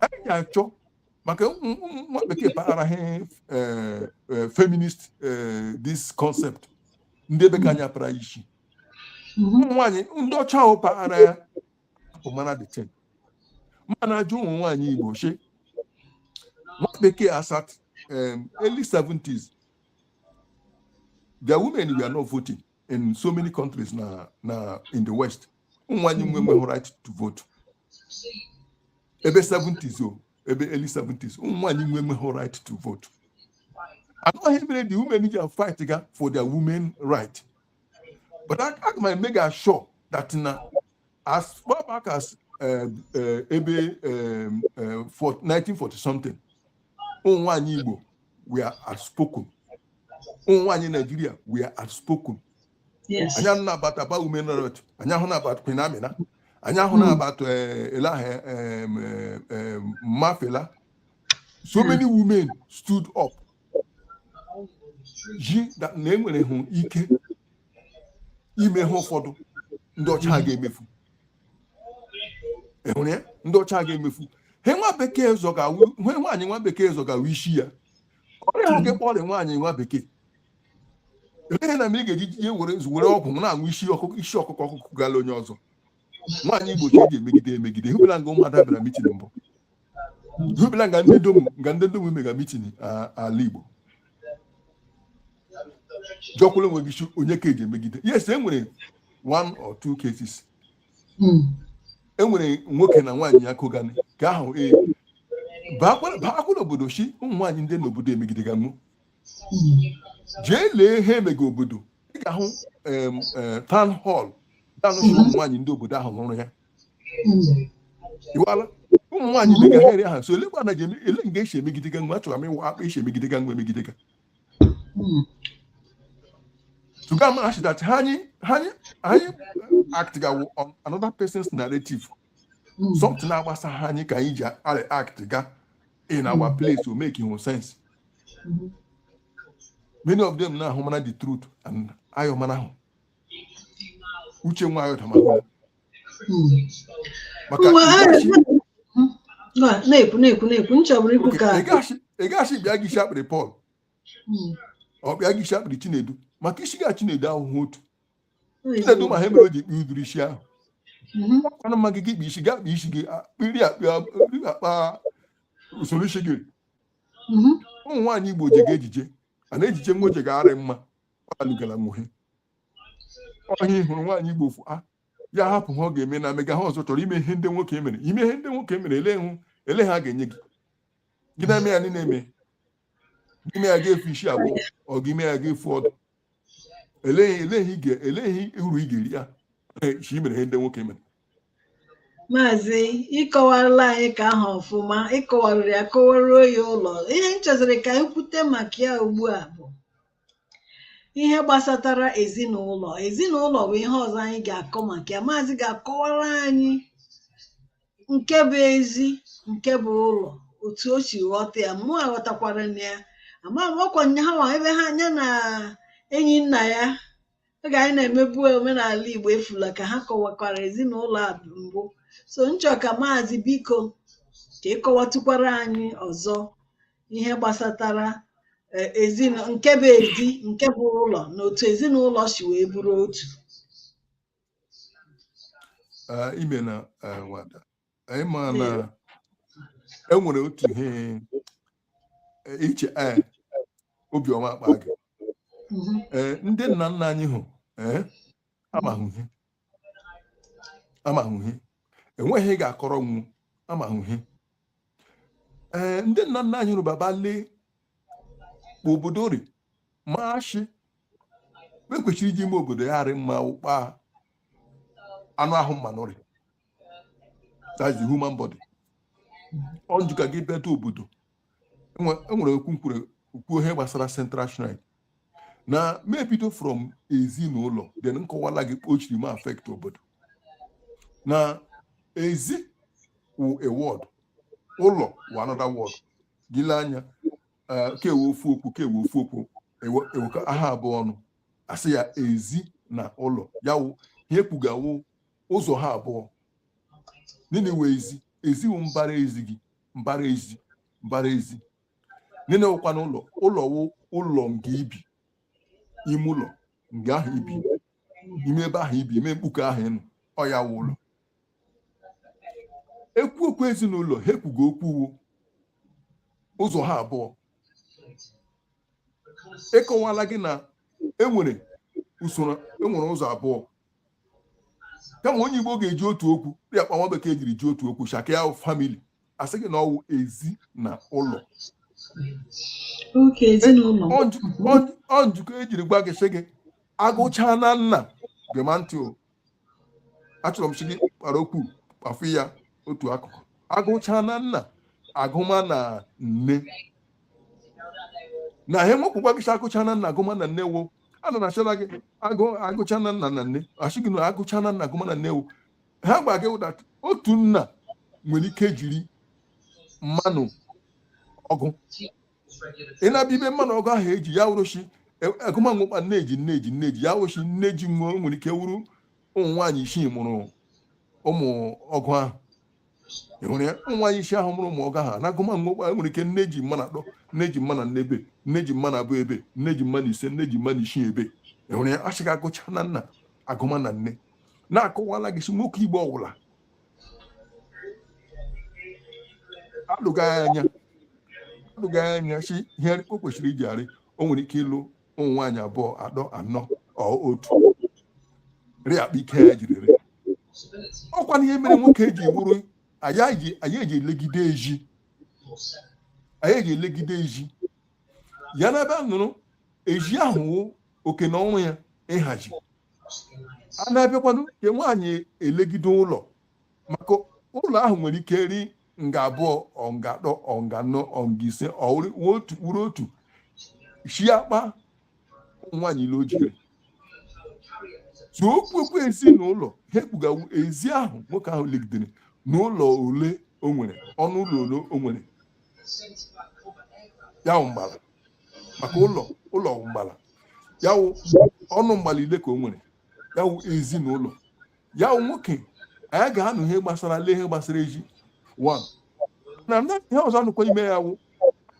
anyị ga-achọ maka nwa bekee paghara eh, eh, feminist eh, this concept ndị ebe ka anyị apara isi ụmụ nwaanyị ndị ọcha ahụ paghara ya bụ mana the thing m na-ajụ ụmụ nwaanyị igbo shi nwa bekee as at early 70s their women were not voting in so many countries na na in the west ụmụ nwaanyị enweghị right to vote ebe 70s o ebe early 70s ụmụ nwaanyị enweghị right to vote na ọwụ ihe mere the women ji fight ga for their women right but aga m emake sure that na as far back as eh, eh, ebe eh, eh, for 1940 something ụmụ nwaanyị Igbo we are outspoken ụmụ nwaanyị Naijiria we are outspoken anyị anụna about Aba women riot anyị anụna about Queen Amina anyị anụna hmm. about eh, elahe eh, eh, ma Fela so hmm. many women stood up ji na enwere hụ ike ime ihe ụfọdụ ndị ọcha ga-emefu enwere ya ndị ọcha ga-emefu he nwa bekee zọga he nwaanyị nwa bekee zọga wụ isi ya ọrịa nwoke kpọrị nwaanyị nwa bekee eleghị na m ị ga-eji ihe were were ọgwụ na-aṅụ isi ọkụkụ ọ kụgala onye ọzọ nwaanyị igbo shi eji emegide emegide hụbela nga ụmụada bịara mitin mbụ hụbela nga ndị dom nga ndị dom mega mitin ala igbo jụkwala onwe gị onye ka eji emegide yes e nwere one or two cases hmm. e nwere nwoke na nwaanyị ya kọganị ka ahụ ee baakwala obodo shi ụmụ nwaanyị ndị n'obodo emegideganụ jee lee ihe emega obodo ị ga-ahụ eh, town hall danụ ụmụ nwaanyị ndị obodo ahụ wuru ya iwala ụmụ nwaanyị dị ga heri aha so elekwa na ele nga esi emegide ga nwa achọrọ m ịma akpa esi emegide ga nwa emegide ga tuga ma ashị that ha anyị ha anyị anyị act ga on another person's narrative something na-agbasahụ anyị ka anyị ji act ga in our place to make sense many of them na-ahụ mara the truth and ayọ marahụ uche nwa ayọ tamahụ maka na-ekwu na-ekwu na-ekwu nchọbụrụ ikwu ka ị gaghachị bịa gị isi akpịrị Pọl ọ bịa gị isi akpịrị Chinedu maka isi ga Chinedu ahụhụ otu Chinedu ma he mere o ji kpụọ ụdịrị isi ahụ ọkwana mma gị gị kpa isi gị akpa isi gị akpịrị akpa usoro isi gị mhm. ụmụ nwaanyị igbo jega ejije a na-ejije nwa oje ga-arị mma ọ alụgala nwohe ọhịa hụrụ nwaanyị igbo fụ a ah, ya hapụ he ọ ga-eme na mega he ọzọ chọrọ ime ihe ndị nwoke mere ime ihe ndị nwoke mere ele hụ ele he a ga-enye gị gị na-eme ya niile eme ime ya ga-efu isi abụọ ọ gị ime ya ga-efu ọdụ eleghị uru ị ga-eri ya shi mere ihe ndị nwoke mere maazị ị kọwarala anyị ka ahụ ọfụma ị kọwarịrị ya kọwaruo ya ụlọ ihe m chọziri ka anyị kwute maka ya ugbu a bụ ihe gbasatara ezinụlọ ezinụlọ bụ ihe ọzọ anyị ga-akọ maka ya maazị ga-akọwara anyị nke bụ ezi nke bụ ụlọ otu o si ghọta ya mụ aghọtakwara na ya ama m ọkwa nya ha ebe ha nya na enyi nna ya oge anyị na-emebu omenala Igbo efula ka ha kọwakwara ezinụlọ a mbụ so nchọ ka maazị biko ka ị kọwatụkwara anyị ọzọ ihe gbasatara eh, ezin- nke bụ ezi nke bụ ụlọ na otu ezinụlọ si wee bụrụ otu Ah, imeena ah, nwada anyị ma na enwere otu ihe e, ichie ee eh, obiọma akpaghị ee eh, ndị nna nna anyị hụ ee eh, amahụ ihe amahụ ihe enweghị ga-akọrọ nwu amahụ ihe ee ndị nna nna anyị hụrụ baba lee obodo rị ma ashị ekwesịrị iji ime obodo ya arị mma ụkpa anụ ahụ mmanụ rị that's the human body ọ njụ ka gị bịata obodo enwere okwu nkwuru kwuo ihe gbasara central shrine na m ebido from ezinụlọ then nkọwala gị kpa o shiri ma affect obodo na ezi wụ a word ụlọ wụ another word gị lee anya eh, kewe ofu okwu kewe ofu okwu ewe- ewekọ ha abụọ ọnụ asị ya ezi na ụlọ ya wụ ihe ekwuga wụ ụzọ ha abụọ nini wụ ezi ezi wụ mbara ezi gị mbara ezi mbara ezi nini wụkwanụ ụlọ ụlọ wụ ụlọ nga ibi ime ụlọ nga ahụ ibi ime ebe ahụ ibi ime mkpuke ahụ ị nọ ọ ya wụ ụlọ ekwu okwu ezinụlọ ha ekwuga okwu wo ụzọ ha abụọ akọwala gị na enwere usoro enwere ụzọ abụọ kama onye igbo ga-eji otu okwu dịka kpa nwa bekee jiri ji otu okwu shakịa family asị gị na ọ wụ ezi na ụlọ ọ njikọ ejiri gwa gị sị gị agụchaa na nna gema ntị o achọrọ m sị gị kpara okwu kpafu ya otu akụkụ agụchaa na nna agụma na nne na ihe nwekwụkwa gị sị agụchaa na nna agụma na nne wo ana na ashịla gị agụ agụcha na nna na nne asị gị na agụcha na nna gụma na nne wụ ha gwa gị ụda otu nna nwere ike jiri mmanụ ọgụ ị na-abịa ibe mmanụ ọgụ ahụ eji ya wụrụchi agụma wo kpa nne ji nne ji nne ji ya wụrụchi nne ji wo nwere ike wụrụ ụmụ nwaanyị isii mụrụ ụmụ ọgụ ahụ ewere ya nwaanyị isii ahụ mụrụ ụmụ ọgụ ahụ na agụma mgbe e nwere ike nne ji mmanụ atọ nne ji mmanụ anọ ebe nne ji mmanụ abụọ ebe nne ji mmanụ ise nne ji mmanụ isii ebe ewere ya asị gị agụcha na nna agụma na nne na-akọwala gị sị nwoke igbo ọwụla atụga ya anya atụga ya anya sị ihe o kwesịrị iji arị o nwere ike ịlụ ụmụ nwaanyị abụọ atọ anọ ọ otu ri akpa ike ya jiri ri ọkwanụ ya mere nwoke ji wụrụ onye ji- onye ji elegide ezi onye ji elegide ezi ya na ebe a nụrụ ezi ahụ wụ oke na ọrụ ya ịhazi a na-abịakwanụ nke nwaanyị elegide ụlọ maka ụlọ ahụ nwere ike ri nga abụọ ọ nga atọ ọ nga anọ ọ nga ise ọ wụrụ otu wụrụ otu shi akpa nwaanyị ile o jiri so e kwuo okwu ezinụlọ ihe e kwuga wụ ezi ahụ nwoke ahụ legidere na ụlọ ole o nwere ọnụ ụlọ ole o nwere ya wụ mgbala maka ụlọ ụlọ wụ mgbala ya wụ ọnụ mgbala ile ka o nwere ya wụ ezinụlọ ya wụ nwoke anyị ga-anụ ihe gbasara lee ihe gbasara ezi one na na ihe ọzọ anụkwa ime ya wụ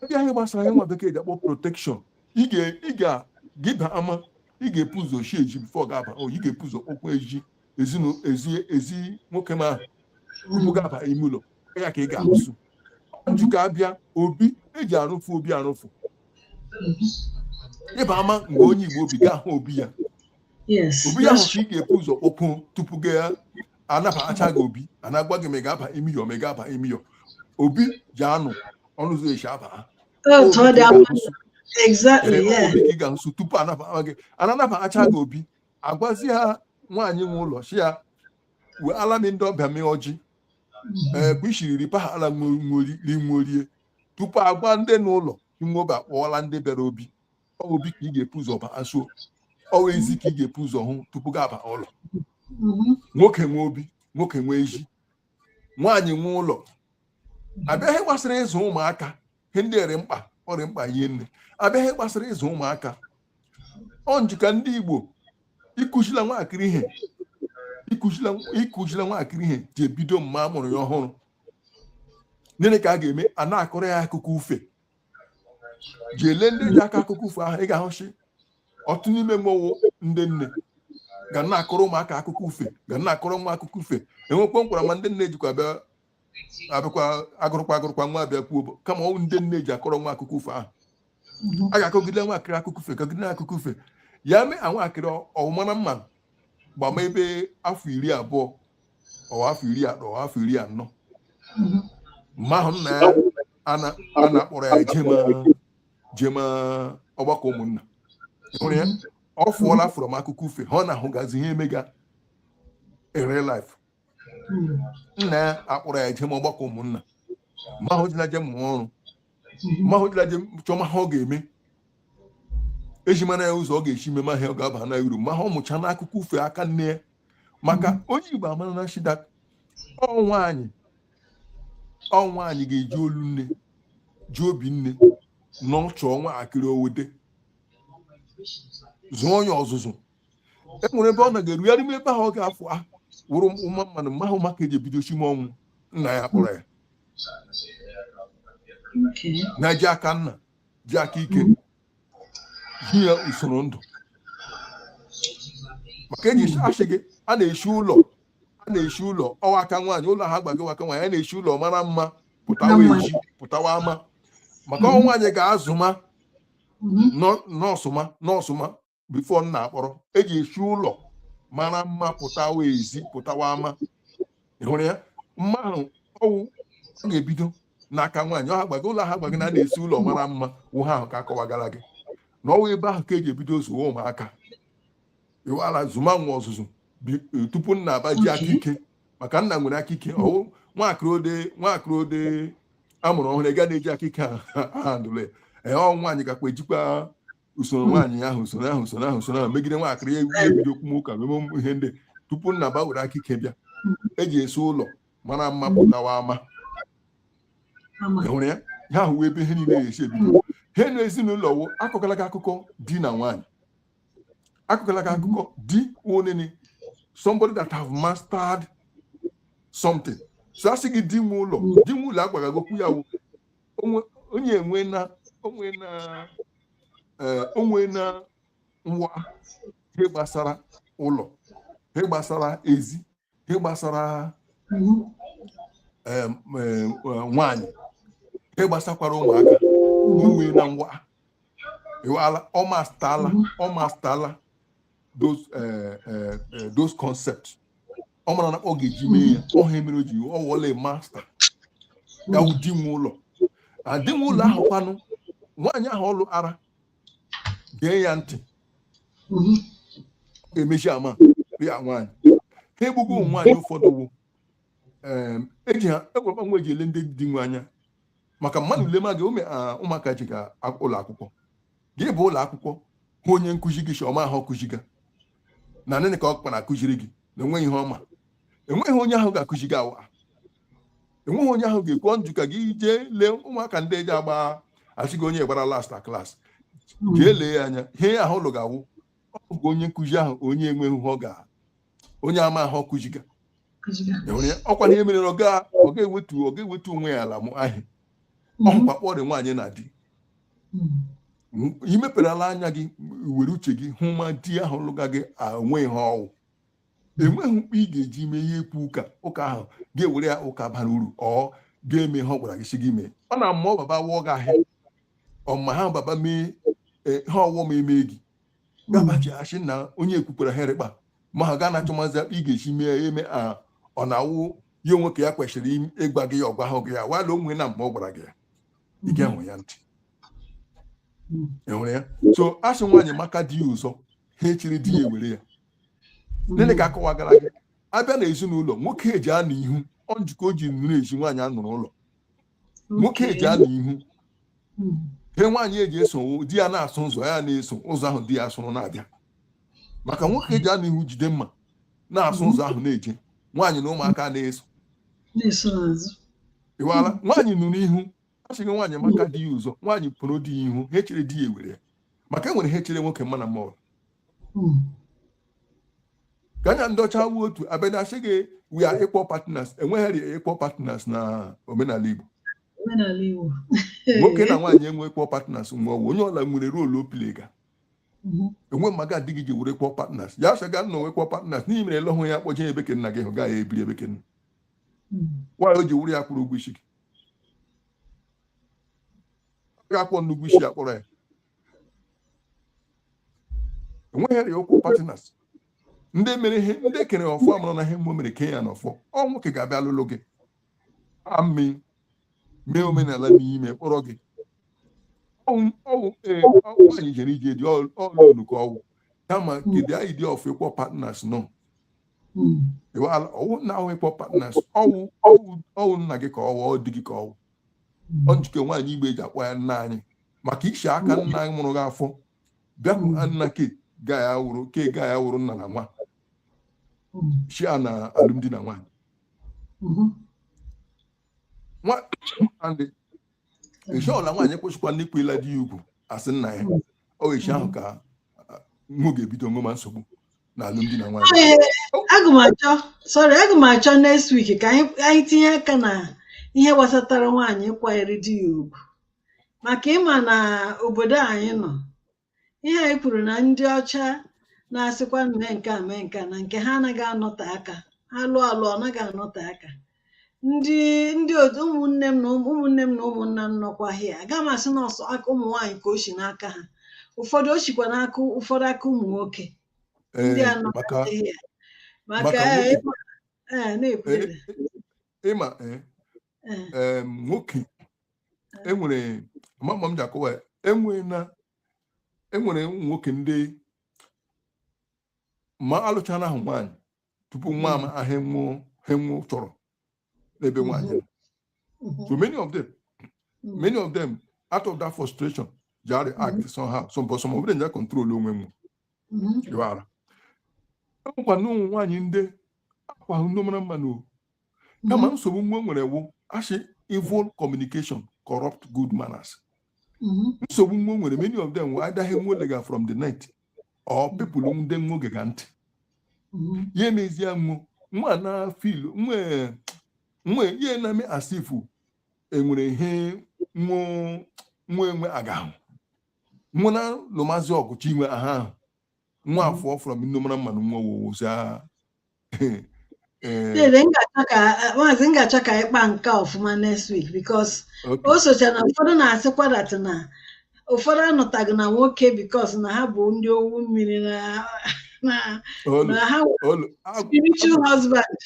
a bịa ihe gbasara ihe nwa bekee ji akpọ protection ị ga- ị ga gị ba ama ị ga-epu ụzọ shi ezi before gị aba o ị ga-epu ụzọ kpọkwa ezi ezinu ezi ezi nwoke ma tupu gị aba ime ụlọ ya ka ị ga-ahụsụ ọ njika a bịa obi e ji arụfụ obi arụfụ ị baa ama nga onye igbo obi ga-ahụ obi ya obi ya ahụ ị ga-epu ụzọ okwu tupu gị anabacha gị obi a na-agwa gị ma ị ga-aba ime ụlọ ma ị ga-aba ime ụlọ obi ji anọ ọnụ ụzọ e shi aba ha ị ga nso tupu anabaa gị a na-anabacha gị obi agwazia nwaanyị nwe ụlọ sị ya enweela m ndị ọbịa mee ọjị ee bụ ishiri nri pahala nri nwo rie tupu agwa ndị n'ụlọ nwo bịa kpọọla ndị bịara obi obi ka ị ga-epu ụzọ baa so ọ wụ ezi ka ị ga-epu ụzọ hụ tupu gị aba ụlọ mhm. nwoke nwe obi nwoke nwe ezi nwaanyị nwe ụlọ a bịa ihe gbasara ịzụ ụmụaka ihe ndị rị mkpa ọ rị mkpa ihe nne a bịa ihe gbasara ịzụ ụmụaka ọ njika ndị Igbo ikuzila nwaakịrị ihe ikuzila nwaakịrị ihe ji ebido mma a mụrụ ya ọhụrụ nene ka a ga-eme a na-akọrọ ya akụkọ ufe ji ele ndị ji akọ akụkọ ufe ahụ ị ga-ahụ sị ọtụtụ n'ime nwo wụ ndị nne ga na-akọrọ ụmụaka akụkọ ufe ga na-akọrọ nwa akụkọ ufe enwekwa nkwara ma ndị nne jikwa bịa abịakwa agụrụkwa agụrụkwa nwa abụ kwuo bụ kama ọ wụ ndị nne ji akọrọ nwa akụkọ ufe ahụ a ga-akọgide nwa akịrị akụkọ ufe kọgide akụkọ ufe ya mee nwaakịrị ọ wụ mana mma gbama ebe afọ iri abụọ ọ wụ afọ iri atọ ọ wụ afọ iri anọ mma ahụ nna ya ana- a na-akpọrọ ya jema jema ọgbakọ ụmụnna Ị hụrụ ya ọ fụọla from akụkọ ufe ha ọ na-ahụgazi ihe emega in real life nna ya akpọrọ ya jema ọgbakọ ụmụnna mma ahụ ji na jema ọrụ ma ahụ dịla je chọọ ma ha ọ ga-eme eji mara ya ụzọ ọ ga-esi ime ma ha ọ ga-aba na uru ma ha ọ mụcha n'akụkọ ufe aka nne ya maka onye Igbo amara na shida ọ nwaanyị ọ nwaanyị ga-eji olu nne ji obi nne nọchọọ nwakịrị owede zụọ onye ọzụzụ e nwere ebe ọ na ga-eru ya n'ime ebe ahụ ọ ga-afụ a wụrụ ụma mmadụ mma ahụ maka eji ebido chime ọ wụ nna ya kpọrọ ya Okay. na ji aka nna ji aka ike zi ya usoro ndụ maka eji asị gị a na-eshi ụlọ a na-eshi ụlọ ọ wụ aka nwaanyị ụlọ ha gbago aka nwaanyị a na-eshi ụlọ mara mma pụtawa Mara mma. ezi pụtawa ama maka ọ wụ nwaanyị ga-azụ ma Mhm. nọ- nọọsụ ma nọọsụ ma before nna akpọrọ eji esi ụlọ mara mma pụtawa ezi pụtawa ama hụrụ ya mma ahụ ọwụ ọ ga-ebido n'aka nwaanyị ọ ha gbago ụlọ ha gbago na a na-esi ụlọ mara mma wụ ha ahụ ka akọwagara gị na ọwụ ebe ahụ ka eji ebido zụwa ụmụaka iwala zụma nwa ọzụzụ e, tupu nna aba ji aka ike maka nna nwere aka ike ọwụ nwakịrị ode nwakịrị ode amụrụ ọhụrụ ga na-eji aka ike handụle ee ọ nwaanyị gakwa ejikwa usoro hmm. nwaanyị ahụ usoro ahụ usoro ahụ usoro ahụ megide nwaakịrị ya ebido kwuma ụka meme ihe ndị tupu nna ba were aka ike bịa hmm. eji esi ụlọ mara mma hmm. pụtawa ama enwere ya ha ahụ ebe ihe niile ga-esi ebido ha na ezinụlọ wụ akọọla gị akụkọ di na nwaanyị akọọla gị akụkọ di onene somebody that have mastered something so a sị gị di nwe ụlọ di nwe ụlọ agwara gị okwu ya wụ onye enwe na onwe na eh, onwe na nwa ihe gbasara ụlọ ihe gbasara ezi ihe gbasara eh, nwaanyị ihe gbasakwara ụmụaka onwe na nwa iwala ọ mastala ọ mastala those eh, eh, eh, those concepts ọ mara na ọ ga-eji mee ya ọ ha mere o ji ọ wụla master ya wụ di nwe ụlọ na di nwe ụlọ ahụ kwanụ nwaanyị ahụ ọ lụara gee ya ntị Mhm. ọ ga-emezi ama ya nwaanyị ha egbugbo ụmụ nwaanyị ụfọdụ wụ em, eji ha egwekwa nwa eji ele ndị di nwe anya maka mmadụ lema gị ụmụaka ji ga ụlọ akwụkwọ gị bụ ụlọ akwụkwọ hụ onye nkụzi gị si ọma ahụ ọ kụziga na nene ka ọ kpara akụziri gị na onweghị ihe ọ ma enweghị onye ahụ ga-akụzi gị awa enweghị onye ahụ ga-ekwu njụ ka gị jee lee ụmụaka ndị eji agba asị gị onye gbara last na klas jee lee ya anya ihe ahụ ụlọ ga-awụ ọ bụ onye nkụzi ahụ onye enweghị ihe ọ ga onye amahụ ọ kụziga ọkwa ihe mere na ọ ga-ewetu ọ ga-ewetu onwe ya ala mụọ ihe ọ hụkwa kpọrọ nwaanyị na di i meperela anya gị were uche gị hụ ma di ahụ lụga gị o nwe ihe ọwụ enweghị mkpa ị ga-eji mee ihe ekwu ụka ụka ahụ ga-ewere ya ụka bara uru ọ ga-eme ihe ọ gwara gị sị gị mee ọ na-ama ọ baba wụọ gị ahịa ọma ha baba mee e, ha ọwụwa m eme gị gabachi asị na onye ekwukwara ihe rị mkpa ma ha ga na-achọ mazi ị ga-esi mee ya eme a ọ na-awụ ya ọ nwoke ya kwesịrị im- ịgwa gị ya ọ gwahụ gị ya wala onwe na mgbe ọ gwara gị ya ị ga-ege ya ntị Mm. enwere ya so a sị nwaanyị maka di ya ụzọ ihe e chere di ya ewere ya nne ka a kọwagara gị a bịa na ezinụlọ nwoke eji anọ ihu ọ njikọ o ji nọrọ ezi nwaanyị anọrọ ụlọ nwoke eji anọ ihu hmm. he nwaanyị eji eso di ya na-asụ ụzọ ya na-eso ụzọ ahụ di ya sụrụ na-abịa maka nwoke eji anọ ihu jide mma na-asụ ụzọ ahụ na-eje nwaanyị na ụmụaka na-eso ịwala nwaanyị nọrọ ihu a sị gị nwaanyị maka di ya ụzọ nwaanyị pụrụ di ya ihu ihe e chere di ya ewere ya maka enwere ihe e chere nwoke mma na mmadụ hmm. gana ndị ọcha wu otu abịa na-asị gị we are equal partners enweghị equal partners na omenala Igbo omenala Igbo nwoke na nwaanyị enwe equal partners nwa ọwụ onye ọla nwere role ọ playga mhm. enwe mmaga adịghị ji wụrụ equal partners ya sị gị na ọ equal partners gịnị mere ị lụhụ ya kpọje ebe ke nna gị hụ gaghị ebiri ebe ke nna mhm. nwaanyị o ji wụrụ ya kwụrụ ụgwọ isi gị gaa kwụọnụ ụgwọ isi ya kpọrọ ya enweghị equal partners ndị mere ihe ndị kere ọfọ amụrụ na ihe mmụọ mere kee ya n'ọfọ ọ nwoke ga-abịa alụlụ gị amị mee omenala n'ime kpọrọ gị ọwụ ee nwaanyị jere ije di ọlụlụ ka ọwụ kama kedu anyị dị ọfọ equal partners no ọwụ na ahụ equal partners ọwụ ọwụ nna gị ka ọwụ ọ di gị ka ọwụ ọnjike nwaanyị Igbo eji akpọ ya nna anyị maka i si aka nna a mụrụ gị afụ bịakwuru ha nna ke ga ya wụrụ ke ga ya wụrụ nna na nwa chi a na alụmdi na nwaanyị nwedị eshi ọla nwaanyị kwụsịkwanụ ịkwanyere di ya ugwu asị nna ya ọ eshi ahụ ka nwa ga-ebido nwema nsogbu na alụmdi na nwanyị Ee, aga m achọ sorry aga m achọ next week ka anyị anyị tinye aka na ihe gbasatara nwaanyị ịkwanyere di ya ugwu maka ịma na obodo anyị nọ ihe anyị kwuru na ndị ọcha na-asịkwa mee nke a mee nke a na nke ha anaghị anọte aka ha lụọ alụ ọ naghị anọte aka ndị ndị otu ụmụnne m na ụmụnne m na ụmụnna m nọkwa here aga m asị na ọ sọ aka ụmụ nwaanyị ka o si n'aka ha ụfọdụ o sikwa n'aka ụfọdụ aka ụmụ nwoke ndị a nọ maka here maka maka nwoke- ịma ee na-ekwu Eh, eh, ịma eh, ee eh, nwoke enwere ma ma m ji akọwa ya enwere na enwere ụmụ nwoke ndị ma alụchana ahụ nwaanyị tupu nwa ama ihe nwo ihe nwo chọrọ n'ebe nwaanyị nọ. so many of them many of them out of that frustration ji arị act somehow some but some of them ja control onwe m dịwara enwekwa na ụmụ nwaanyị ndị akwa ahụ ndị mara mma na o kama nsogbu nwa nwere wụ a sị evil communication corrupt good manners nsogbu nwa nwere many of them wụ adaghị nwa legal from the night or people ndị nwo gega ntị mm-hmm. ya emezie nwa nwa na feel nwa nwa ihe na-eme as if enwere ihe nwa enwe agahụ nwa na lụmazi ọgụchi inwe aha ahụ nwa mm-hmm. afọ from ndị mara mmanụ nwa wowozi Eh, Dede, m ga-achọ ka maazị m ga-achọ ka anyị kpaa nke a ọfụma next week because okay. o socha na ụfọdụ na-asịkwa that na ụfọdụ anọtaghị na nwoke because na ha bụ ndị owu mmiri na na Olu, na ha nwere olu, agwụ- spiritual husband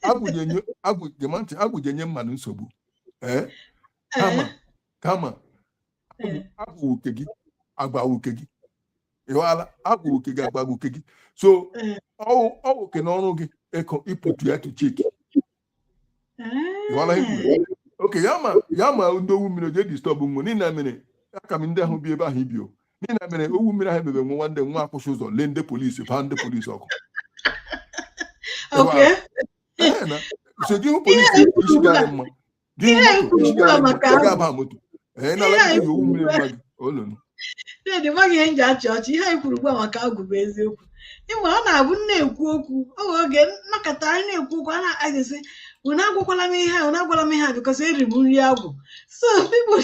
agwụ ga-enye- agwụ- gee ma ntị, agwụ je-enye mmadụ nsogbu Eh, kama kama agwụ uke gị agba uke gị ịghọala agwụ uke gị agba uke gị so ọ oke na ọrụ gị ịkụ ịpụtụ ya to check ịghọala oke ya ma ya ma ndị owu mmiri o je disturb nwe niile mere aka m ndị ahụ bi ebe ahụ ibio niile mere owu mmiri ahụ emebe nwa nwanne nwa akwụsị ụzọ lee ndị polisi gbaa ndị polisi ọkụ so gị hụ polisi isi gara mma Chidi maghị ihe m ji achị ọchị ihe anyị kwuru ugbu a maka agwụ bụ eziokwu ịma ọ na-abụ m na-ekwu okwu oge oge nnọkọta anyị na-ekwu okwu a na-agazisi unu agwakwala m ihe a unu agwala m ihe a because eri m nri agwụ so people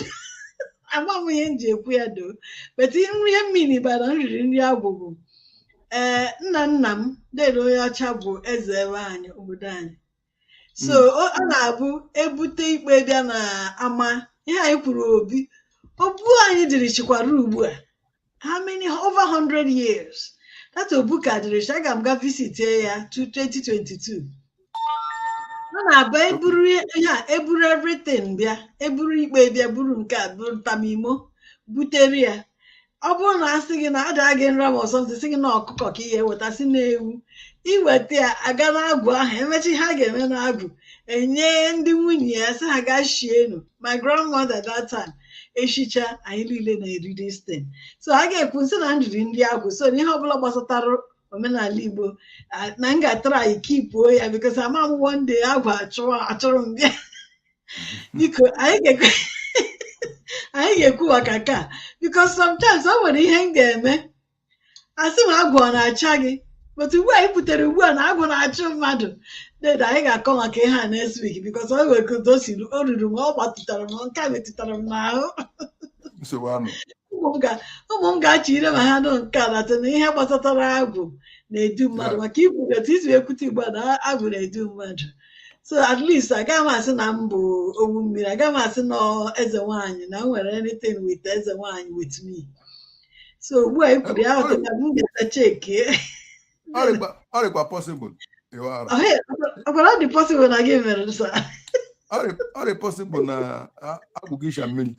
agba m ihe m ji ekwu ya though but nri ihe m mean by na m riri nri agwụ bụ ee nna nna m Duru Onyeọcha bụ eze ebe anyị obodo anyị so hmm. ọ na-abụ ebute ikpe bịa na ama ihe anyị kwuru obi obu anyị dịrịchikwara ugbu a how many over 100 years that obu ka dịrịchi aga m ga visit ya 2022 ọ na-abụ eburu ihe a eburu everything bịa eburu ikpe bịa buru nke a buru ntamimo butere ya ọ bụrụ na asị gị na ada gị nra ma ọsọ ntị sị gị na ọkụkọ ka ihe eweta si na ewu iweta ya aga n'agwụ ahụ emechaa ihe a ga-eme n'agwụ enye ndị nwunye ya sị ha gaa shienu my grandmother that time eshicha anyị niile na-eri this thing so a ga-ekwu sị na m riri nri agwụ so na ihe ọbụla gbasatara omenala igbo ah, na m ga-atara anyị kipuo ya because ama m one day agwụ achụrụ achụrụ m bịa biko anyị ga-ekwe anyị ga-ekwu maka nke a because sometimes o nwere ihe m ga-eme asị m agwụ ọ na-acha gị but ugbu a i butere ugbu a na agwụ na-achụ mmadụ dede anyị ga-akọ maka ihe a next week because o nwere ka udo si ru- o ruru m ọ gbatụtara m nke a metụtara m n'ahụ nsogbu anụ ụmụ m ga- ụmụ m ga-achọ ire ma ha nụ nke a na sị na ihe gbasatara agwụ na-edu mmadụ maka ikwu etu i si ekwute ugbu a na agwụ na-edu mmadụ so at least agaghị m asị na m bụ owu mmiri agaghị m asị na ọ eze nwaanyị na m nwere anything with eze nwaanyị with me so ugbu a i kwuru ya ahụ na m ga-ata cheki ọ dịkwa ọ dịkwa possible ịwa ara ọkwara ọ dị possible na gị mere sa ọ dị ọ dị possible na a- agwụ gị shi na mmiri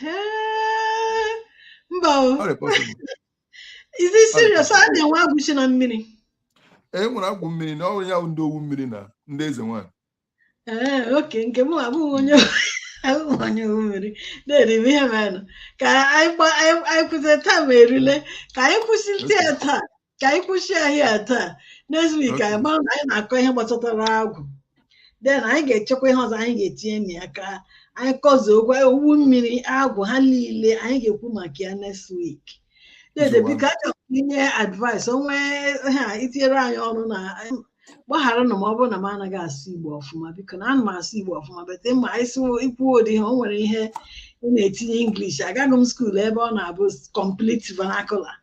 Ee, mba o ọ dị possible Is it serious? A na-enwe agwụ shi na mmiri. E nwere agwụ mmiri na ọrụ ya bụ ndị owu mmiri na ndị eze nwanyị. Ee, eh, okay nke m abụghị onye abụghị onye owu mmiri dede m ihe mere ka anyị kwụsị taa ma erile ka anyị kwụsịte ya taa ka anyị kwụsị ya here taa next week anyị mara na anyị na-akọ ihe gbasatara agwụ then anyị ga-echekwa ihe ọzọ anyị ga-etinye na ya ka anyị kọzuo okwu owu mmiri agwụ ha niile anyị ga-ekwu maka ya next week dede biko achọrọ m inye advice o nwee ihe i tinyere anyị ọrụ na gbagharanụ m ọ bụrụ na m anaghị asụ igbo ọfụma biko na ana m asụ igbo ọfụma but ma asị kwuo ụdị ihe o nwere ihe ị na-etinye english agaghị m school ebe ọ na-abụ complete vernacular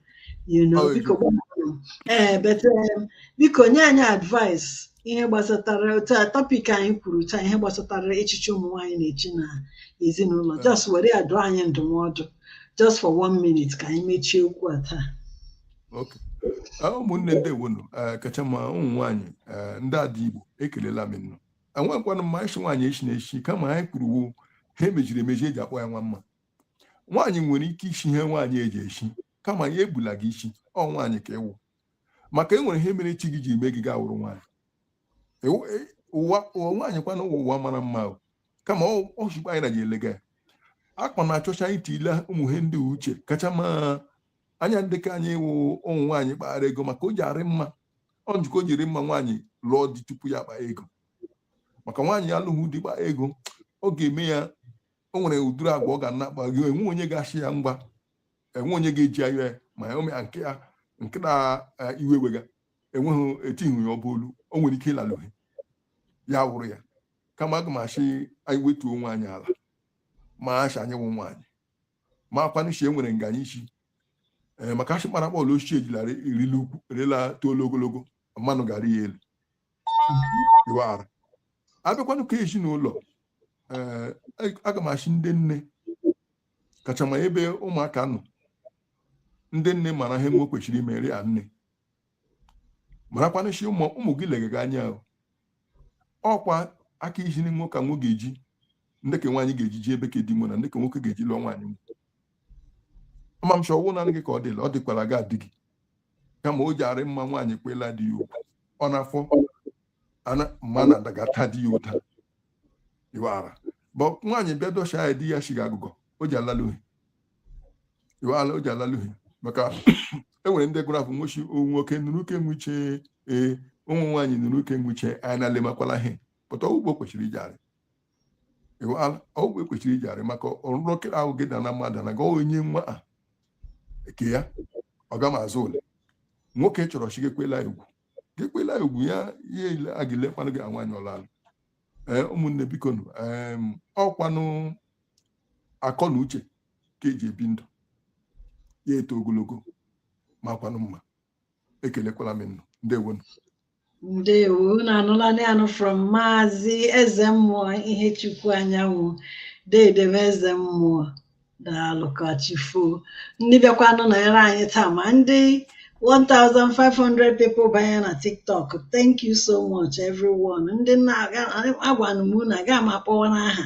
you know Oh, biko gwa m. ee but um, biko nye anyị advice ihe gbasatara otu a topic anyị kwuru taa ihe gbasatara echichi ụmụ nwaanyị na-echi na ezinụlọ just were ya dụọ anyị ndụmọdụ just for one minute ka anyị mechie okwu a taa Okay. Ah, ụmụnne ndeewonụ kacha ma ụmụ nwaanyị eh, ndị ada igbo ekelela m unu ọ makwanụ mma ichi nwaanyị echi na echi kama anyị kwuruwo ha emejiri emeji eji akpọ ya nwa mma nwaanyị nwere ike ichi ihe nwaanyị ji echi kama ya ebula gị isi ọ nwaanyị ka ị wụ maka e nwere ihe mere chi gị ji mee gị ka ị wụrụ nwaanyị e, ụwa nwaanyị kwana ụwa ụwa mara mma kama ọ chikwa anyị na ji elega ya akpa na-achọcha anyị tile ụmụ ihe ndị uche kacha ma anya ndị ka anyị wụ ụmụ nwaanyị kpara ego maka o ji arị mma ọ njikọ o jiri mma nwaanyị lụọ di tupu ya kpaa ego maka nwaanyị alụghị di kpaa ego ọ ga-eme ya o nwere ụdịrị agwa ọ ga na-akpa gị enwe onye ga-ashị ya ngwa enwe onye ga-eji anya ya ma ya omea nke ya nke na eh, iwe wega enweghị etighị ya ọ bụ olu o nwere ike ịlalụ ha ya wụrụ ya kama aga m ashị anyị wetuo onwe anyị ala ma ashị anyị wụ nwaanyị marakwanụ shị enwere nga anyị shi ee maka ashị kpara bọọlụ ochie ejilara erila ukwu erila too ogologo mmanụ ga-arị ya elu iwara abịakwanụ ka ezinụlọ ee aga m ashị ndị nne kacha ma ebe ụmụaka nọ ndị nne mara ihe nwo kwesịrị imere ya nne marakwanụ shị ụmụ ụmụ gị lega gị anya ahụ ọkwa aka iji nwo ka nwo ga-eji ndị ka nwaanyị ga-eji ji ebe ka di nwo na ndị ka nwoke ga-eji lụọ nwaanyị nwo ama m shị ọwụ na gị ka ọ dịla ọ dịkwara gị adị gị kama o ji arị mma nwaanyị kwela di ya ugwu ọ na-afọ mma na adagata di ya ụta iwara but nwaanyị bịa dọcha ya di ya shiga agụgọ o ji alaluhi iwala o ji alaluhi maka enwere ndị gụrụ afọ nwochi nwoke nụrụ uke nwuche ee ụmụ nwaanyị nụrụ uke nwuche anyị na-alemakwala ihe but ugbo kwesịrị iji arị ịghọala ọgwụ ekwesịrị iji arị maka ọrụrụ oke ahụ gị da na mmadụ na gawa onye nwa a nke ya ọ ga ma azụ ole nwoke chọrọ shị gekwela egwu gekwela egwu ya ihe ile a gị lekwanụ gị nwaanyị ọlalụ ee ụmụnne bikonụ em, ọkwanụ akọ na uche ka eji ebi ndụ ya eto ogologo makwanụ mma ekelekwala m nnụ ndewo ndewo na anụla anụ from Maazị Ezemmụọ Ihechukwu Anyanwụ deede m Ezemmụọ daalụ ka chi foo ndị bịakwanụ nọnyere anyị taa ma ndị 1,500 people banye na TikTok thank you so much everyone ndị na-agwanụ m na aga m akpọwa n'aha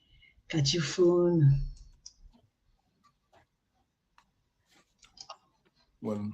ka chi foo unu Well,